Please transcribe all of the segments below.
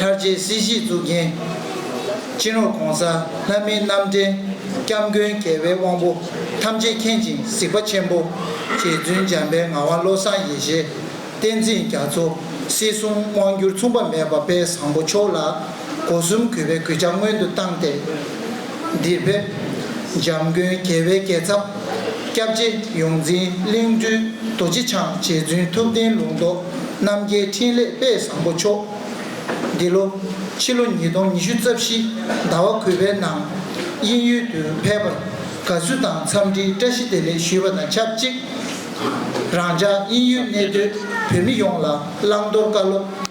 ལྷར་བཅས་སྲིད་ཞིའི་གཙུག་རྒྱན། སྤྱན་རོག་གོང་ས་ལྷ་མིའི་རྣམ་འདྲེན། སྐྱབས་མགོན་རྒྱལ་བའི་དབང་པོ་ཐམས་ཅད་མཁྱེན་ཅིང་གཟིགས་པ་ཆེན་པོ། རྗེ་བཙུན་འཇམ་དཔལ་ངག་དབང་བློ་བཟང་ཡེ་ཤེས་བསྟན་འཛིན་རྒྱ་མཚོ། སྲིད་གསུམ་དབང་བསྒྱུར་མཚུངས་པ་མེད་པ་དཔལ་བཟང་པོ་མཆོག་ལ། སྒོ་གསུམ་གུས་པས་གུས་ཕྱག་སྔོན་དུ་བཏང་སྟེ། འདིར་ཕེབས། འཇམ་མགོན་རྒྱལ་བའི་རྒྱལ་ཚབ། སྐྱབས་རྗེ་ཡོངས་འཛིན་གླིང་སྤྲུལ་རྡོ་རྗེ་འཆང་རྗེ་བཙུན་ཐུབ་བསྟན་ལུང་རྟོགས་རྣམ་རྒྱལ་འཕྲིན་ལས་དཔལ་བཟང་པོ་མཆོག། འདི་ལོ་ཕྱི་ལོ་ཉིས་སྟོང་ཉི་ཤུ་རྩ་བཞི་ཟླ་བ་གུས་པའི་ནང་དབྱིན་ཡུལ་དུ་ཕེབས་པར་དགའ་བསུ་དང་འཚམས་འདྲིའི་བཀྲ་ཤིས་བདེ་ལེགས་ཞུས་པ་དང་ཆབས་ཅིག་རང་ཅག་དབྱིན་ཡུལ་གནས་སྡོད་བོད་མི་ཡོངས་ལ་བླང་དོར་བཀའ་སློབ།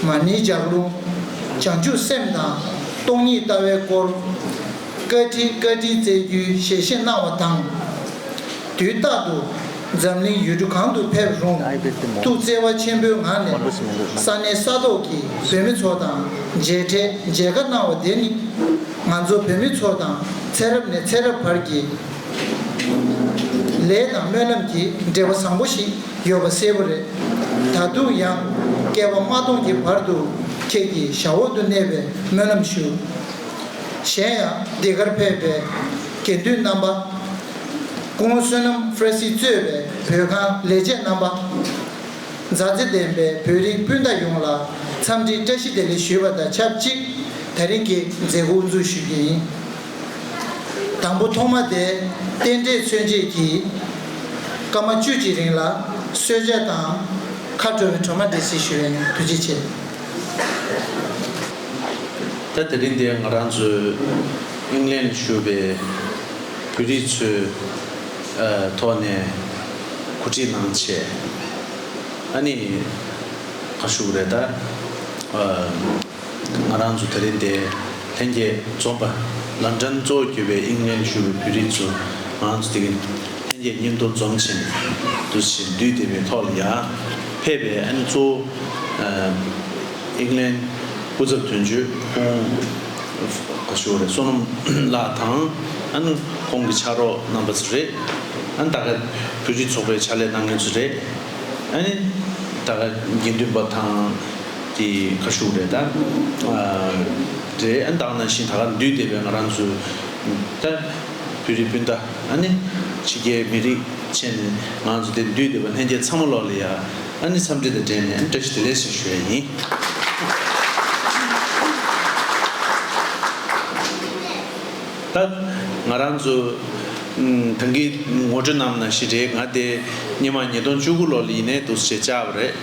མ་ནི་ལྗགས་ལུང། བྱང་ཆུབ་སེམས་དང་སྟོང་ཉིད་ལྟ་བའི་སྐོར། བཀའ་ཁྲི་བཀའ་ཁྲིའི་རྩལ་རྒྱུའི་ཞལ་བཞེས་གནང་བ་དང། དུས་རྟག་ཏུ་འཛམ་གླིང་ཡུལ་གྲུ་གང་དུ་ཕེབས་རུང་ཐུགས་བརྩེ་བ་ཆེན་པོའི་ངང་ནས་ས་གནས་ས་ཐོག་གི་བོད་མི་ཚོ་དང་མཇལ་འཕྲད་མཇལ་ཁ་གནང་བ་དེ་ནི། ང་ཚོ་བོད་མི་ཚོ་དང་ཚེ་རབས་ནས་ཚེ་རབས་བར་གྱི་ལས་དང་སྨོན་ལམ་གྱི་འབྲེལ་བ་བཟང་པོ་ཞིག་ཡོད་པ་གསལ་པོ་རེད། ད་དུང་ཡང། བསྐལ་པ་མ་སྟོང་གི་བར་དུ་ཁྱེད་ཀྱི་ཞབས་འོག་ཏུ་གནས་པའི་སྨོན་ལམ་ཞུ། གཞན་ཡང་འདི་གར་ཕེབས་པའི་དགེ་འདུན་རྣམ་པ། སྐུ་ངོ་བསོད་ནམས་ཧྥ་ར་སི་གཙོས་པའི་བོད་ཁང་ལས་བྱེད་རྣམ་པ། མཛའ་བརྩེ་ལྡན་པའི་བོད་རིགས་སྤུན་ཟླ་ཡོངས་ལ་འཚམས་འདྲིའི་བཀྲ་ཤིས་བདེ་ལེགས་ཞུས་པ་དང་ཆབས་ཅིག་ད་རིང་གི་མཛད་སྒོ་དབུ་འཛུགས་ཞུ་རྒྱུ་ཡིན། དང་པོ་ཐོག་མ་དེ་རྟེན་འབྲེལ་མཚོན་བྱེད་ཀྱིས། སྐར་མ་བཅུ་གཅིག་རིང་ལ་གསོལ་ཇ་དང། མཁའ་འགྲོ་བའི་གྲོ་མ་འདྲེ་སྲི་ཞུ་བའི་དུས་ཅི་བྱེད། ད་དེ་རིང་འདིར་ང་རང་ཚོའི་དབྱིངས་ལེན་ཞུ་བའི་བོད་རིགས་ཚོའི་ཐོག་ནས་གོ་སྒྲིག་གནང་ཆེད་ཨ་ནི་ཁ་ཤུགས་རེ་ད། ང་རང་ཚོ་ད་རེས་འདས་ལྷན་རྒྱས་འཛོམས་པ་ལ་འགྲན་རྩོད་བརྒྱུད་པའི་དབྱིངས་ལེན་ཞུ་བའི་བོད་རིགས་ཚོ་ང་རང་ཚོ་དེ་གིན་ལྷན་རྒྱས་གཉེན་དུ་འཛོམས་ཕྱིན་དུ་གཞི་འདུས་དེ་བས་ཐོག་ལ་ཡར་ཕེབས་པའི་ཨ་ནེ་གཙོ་བོ་དབྱིངས་ལེན་སྐུ་ཚབ་དོན་གཅོད་ཁོང་ག་ཞུ་བ་རེད་བསོད་ནམས་ལགས་དང་ཨ་ནེ་ཁོང་གི་ཕྱག་རོགས་རྣམ་པ་ཚོ་རེད་ཨ་ནེ་ད་ག་བོད་རིགས་ཚོགས་པའི་ཕྱག་ལས་གནང་མཁན་ཚོ་རེད། ཨ་ནི། ད་ག་དགེ་འདུན་པ་དང་དེ་ཁ་ཤུག་རེད་ད། རེད་ཨ་ནི་བདག་ན་བཞིན་ད་ག་འདུས་སྡེ་བའི་ང་རང་ཚོའི་ད། བོད་རིགས་སྤུན་ཟླ་ཨ་ནི། ཕྱི་རྒྱལ་མི་རིགས་ཆེ་ནས་ང་རང་ཚོ་དེ་འདུས་སྡེ་བ་ལྷན་རྒྱས་ཚང་མ་ལོག་ལེ་ཡ་ཨ་ནི་འཚམས་འདྲི་དང་འབྲེལ་ནས་ཨ་ནི་བཀྲ་ཤིས་བདེ་ལེགས་ཞེས་ཞུ་ཡ་ཡིན། ད་ང་རང་ཚོ་གངས་སྐྱིད་ངོ་སྤྲོད་གནང་མིན་ན་ཞིག་རེད་ང་དེ་སྙེ་མ་ཉིས་སྟོང་བཅུ་དགུ་ལོར་ལ་ཡིན་ནའི་འདུག་ཅེས་བཅར་བ་རེད།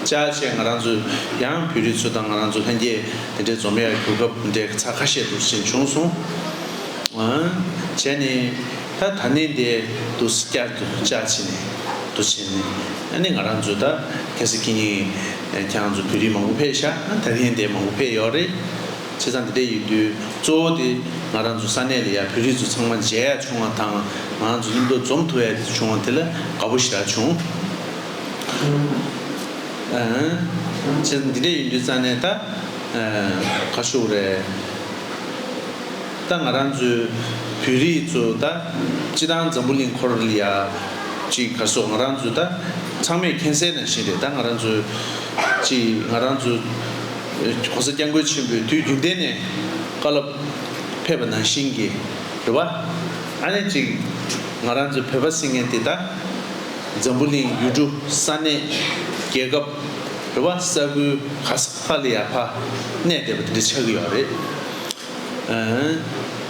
བཅར་རྗེས་ང་རང་ཚོ་ཡང་བོད་རིགས་ཚོ་དང་ང་རང་ཚོ་ལྷན་རྒྱས་དེ་འདྲའི་འཛོམས་ཡར་གྱུར་སྐབས་འདྲའི་ཚ་ཁ་ཤས་འདུག་ཅེས་བྱུང་སོང། བྱས་ནས་ད་ད་ནས་འདས་འདུག་བསྐྱར་དུ་བཅར་བྱས་ནས་འདུག་བྱས་ནས་ཨ་ནི་ང་རང་ཚོ་ད་གལ་སྲིད་ཀྱིས་ཁྱེད་རང་ཚོ་བོད་རིགས་མང་པོ་ཕེད་ཤག་ད་ལྷན་འདས་མང་པོ་ཕེད་ཡོད་རེད། བྱས་ཙང་འདི་འད་ཡོད་དུས་གཙོ་བོ་དེ་ང་རང་ཚོ་ས་གནས་ལ་ཡང་བོད་རིགས་ཚོ་ཚང་མ་མཇལ་ཡ་བྱུང་བ་དང་ང་རང་ཚོ་སྙིང་སྟོབས་འཛོམས་ཐུབ་ཡ་བྱུང་བ་དེ་ལ་དགའ་པོ་ཞེ་དྲག་བྱུང། བྱས་ཙང་འདི་འད་ཡོད་དུས་རྩ་ནས་ད་ག་ཤོག་རེད། ད་ང་རང་ཚོའི་བོད་རིགས་ཚོ་ད་སྤྱི་དང་འཛམ་བུ་གླིང་འཁོར་ལ་ཡ་ཅིག་ག་སོག་ང་རང་ཚོ་ད་ཚང་མས་མཁྱེན་གསལ་ནང་བཞིན་རེད་ད་ང་རང་ཚོ་ཅིག་ང་རང་ཚོ། ྋགོང་ས ྋསྐྱབས་མགོན་ཆེན་པོས་དུས་རྒྱུན་གཏན་ནས་བཀའ་སློབ་ཕེབས་པ་ནང་བཞིན་གྱི་རེ་བ། ཨ་ནེ་གཅིག་ང་རང་ཚོའི་བོད་པ་སྲིད་ངན་འདི་དག་འཛམ་བུ་གླིང་ཡུལ་གྲུ་ས་གནས་རྒྱལ་ཁབ་རེ་བ་ས་ཁུལ་གྷ་ས་བྷ་ལི་ཡ་བྷ་གནས་བསྡད་པ་དེ་འདྲ་ཆགས་ཀྱི་ཡོད་རེད།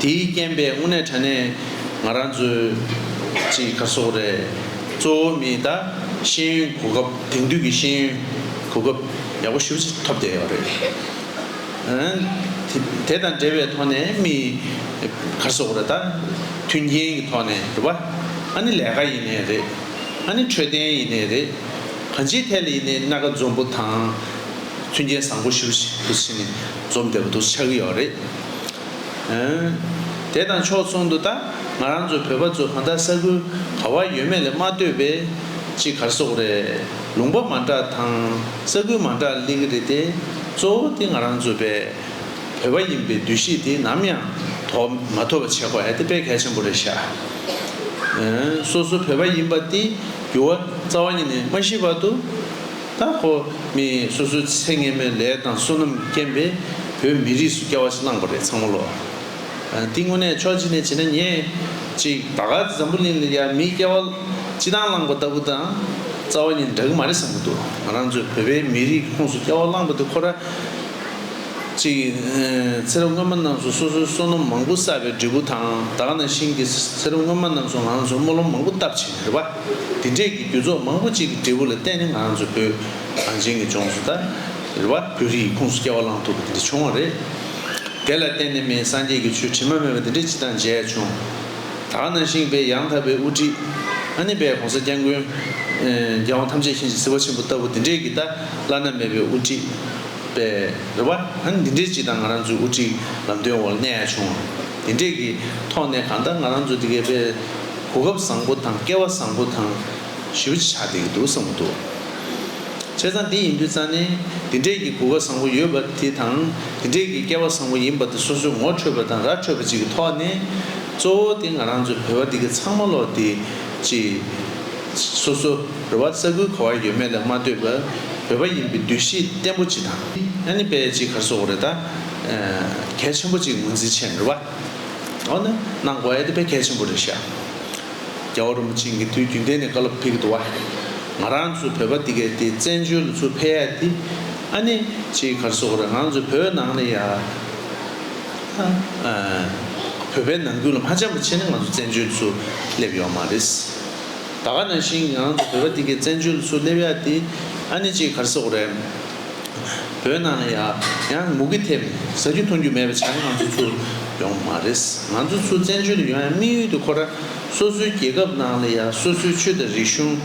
དེའི་རྐྱེན་པས་དངོས་གནས་དྲ་གནས་ང་རང་ཚོའི་གཅིག་ཁ་སོགས་རེད། གཙོ་བོ་མི་དང་ཤེས་ཡོན་གོ་སྐབས་དེང་དུས་ཀྱི་ཤེས་ཡོན་གོ་སྐབས་ཡག་པོ་ཞུ་ཕྱིར་ཐོབ་བསྡད་ཡོད་རེད། དེ་དང་འབྲེལ་བའི་ཐོག་ནས་མི་ཁ་སོགས་རེ་ད་མཐུན་རྐྱེན་གྱི་ཐོག་ནས་རེད་པ། ཨ་ནི་ལས་ཀ་ཡིན་ནས་རེད། ཨ་ནི་འཕྲོད་བསྟེན་ཡིན་ནས་རེད། གང་ཅིའི་ཐད་ལ་ཡིན་ནའི་སྣ་ཁ་འཛོམས་པོ་དང་མཐུན་རྐྱེན་བཟང་པོ་ཞུ་ཕྱིར་ཕུ་སི་ནས། རྩོམ་དེ་བོད་དུ་ཆགས་ཀྱི་ཡོད་རེད་དེ། དེ་དང་ཕྱོགས་མཚུངས་དུ་ད་ང་རང་ཚོ་བོད་པ་ཚོ་གང་དག་ས་ཁུལ་ག་བར་ཡོད་མེད་ལས་མ་ལྟོས་པའི་གཅིག་གར་སོག་རེད་ལུང་པ་མ་འདྲ་དང་ས་ཁུལ་མ་འདྲ་གླེང་གི་རེད་དེ་གཙོ་བོ་དེ་ང་རང་ཚོ་བས་བོད་པ་ཡིན་པའི་འདུ་ཤེས་དེ་ནམ་ཡང་ཐོག་མ་ཐོབ་པ་བྱེད་དགོས་དེ་དཔེ་གལ་ཆེན་པོ་རེད་ཤག་སོ་སོ་བོད་པ་ཡིན་པ་དེ་འགྱུར་བ་རྩ་བ་ཉིད་ནས་མ་ཤེས་བར་དུ། ད་ཁོ་མི་སོ་སོའི་ཚེ་ངན་མོའི་ལས་དང་བསོད་ནམས་རྐྱེན་པས་བོད་མི་རིགས་སུ་སྐྱ་བ་ཞིག་བླངས་པ་རེད་ཚང་མ་ལོ། འདི་དངོས་གནས་ཕྱོགས་གཅིག་ནས་བྱེད་ན་ཉེས། གཅིག་ད་ག་འཛམ་བུ་གླིང་ལ་ཡང་མིའི་སྐྱ་བ་སྤྱི་དང་བླངས་པ་ལྟ་བུ་དང། རྩ་བ་གཉིས་འདྲ་གི་མ་རེད་བསམ་གྱི་འདུག་ང་རང་ཚོའི་བོད་པའི་མི་རིགས་ཁོངས་སུ་སྐྱ་བ་བླངས་པ་དེ་ཁོ་ར། གཅིག་ཚེ་རབས་སྔོན་མ་རྣམས་སུ་སོ་སོའི་བསོད་ནམས་མང་པོ་བསགས་པའི་འབྲས་བུ་དང་ད་ག་ནང་བཞིན་གྱི་ཚེ་རབས་སྔོན་མ་རྣམས་སུ་ང་ཚོར་སྨོན་ལམ་མང་པོ་བཏབ་བྱས་ནས་རེད་པ། དེ་འབྲེལ་གྱི་རྒྱུ་ཚོགས་མང་པོ་གཅིག་གི་འབྲས་བུ་ལ་བརྟེན་ནས་ང་ཚོ་བོད་གངས་ཅན་གྱི་ལྗོངས་སུ་དར་བ་བོད་རིགས་ཀྱི་ཁུངས་སུ་སྐྱེ་བ་བླངས་ཐུབ་པ་དེ་བྱུང་བ་རེད། དེ་ལ་བརྟེན་ནས་མིའི་སངས་རྒྱས་ཀྱི་ཆོས་དྲི་མ་མེད་པ་དེ་འདྲའི་སྤྱི་དང་མཇལ་བྱུང། ད་ནང་ཞིང་པའི་ཡང་དག་པའི་དབུ་ཁྲིད། ཨ་ནི་པའི་གོང་ས་སྐྱབས་མགོན། རྒྱལ་དབང་ཐམས་ཅད་གཤིན་རྗེ་སྲིད་པ་ཆེན་པོ་ལྟ་བུ་དེ་འདྲའི་གི་ད་བླ་ན་མེད་པའི་དབུ་ཁྲིད། པའི་རེད་བ། ཨ་ནི་འདི་འདྲའི་སྤྱི་དང་ང་རང་ཚོའི་དབུ་ཁྲིད་ལམ་སྟོན་འོག་ལ་གནས་ཡག་བྱུང། དེ་འདྲའི་གི་ཐོག་ནས་གང་ལྟར་ང་རང་ཚོ་དེ་གའི་པའི། གོ་སྐབས་བཟང་པོ་དང་སྐལ་བ་བཟང་པོ་དང། ཞེའུ་ཅི་ཆགས་བསྡད་ཀྱི་འདུག་བསམ་གྱི་འདུག་བྱས་ཙང་འདི་ཡིན་དུས་རྩ་ནས་འདི་འདྲས་ཀྱི་གོ་སྐབས་བཟང་པོ་ཡོད་པ་དེ་དང་འདི་འདྲས་ཀྱི་སྐལ་བ་བཟང་པོ་ཡིན་པ་དེ་སོ་སོའི་ངོ་འཕྲོད་པ་དང་ར་འཕྲོད་པ་ཅིག་གི་ཐོག་ནས། གཙོ་བོ་དེ་ང་རང་ཚོའི་བོད་པ་འདི་ག་ཚང་མ་ལོག་སྟེ། ཅི། སོ་སོ་རེ་བ་ས་ཁུལ་ག་བར་ཡོད་མེད་ལ་མ་ལྟོས་པར་བོད་པ་ཡིན་པའི་འདུ་ཤེས་བརྟན་པོ་ཅིག་དང། ཨ་ནི་པའི་ཅིག་གར་སོགས་རེ་ད། གལ་ཆེན་པོ་ཅིག་ངོས་འཛིན་བྱས་ནས་རེ་བ། ནི་གནང་དགོས་དེ་ཕན་གལ་ཆེན་པོ་རེད་ཤག་རྒྱ་བོ་རིན་པོ་ཆེ་འགི་དུས་རྒྱུན་ལྡན་ནས་བཀའ་སློབ་ཕེབས་གི་འདུག་བ་ང་རང་ཚོ་བོད་པ་འདི་གའི་དེ་བཙན་བྱོལ་ལོ་ཚོ་ཕལ་ཡག་འདི་ཨ་ནི་ཅིའི་གར་སོག་རེད་ང་ཚོ་བོད་ནང་ནས་ཡ་བོད་པའི་ནང་ཁུལ་ལ་མ་འཇམ་པོ་ཆེ་ནི་ང་ཚོ་བཙན་བྱོལ་ཚོ་སླེབས་ཡོག་མ་རེད་ད་ག་ནང་བཞིན་ང་རང་ཚོ་བོད་པ་འདི་གའི་བཙན་བྱོལ་ལོ་ཚོ་སླེབས་ཡག་འདི་ཨ་ནི་ཅིའི་གར་སོག་རེད། བོད་ནང་ཡང་ཡང་མུ་གེ་ཐེབས་ནས་ཟ་རྒྱུ་འཐུང་རྒྱུ་མེད་པའི་བྱ་ངན་ང་ཚོ་ཚུར་ཡོང་གི་མ་རེད། ང་ཚོ་ཚུར་བཙན་བྱོལ་དུ་ཡོང་ཡང་དམིགས་ཡུལ་དེ་ཁོ་རང་སོ་སོའི་རྒྱལ་ཁབ་ནང་ལ་ཡང་སོ་སོའི་ཆོས་དང་རིག་གཞུང་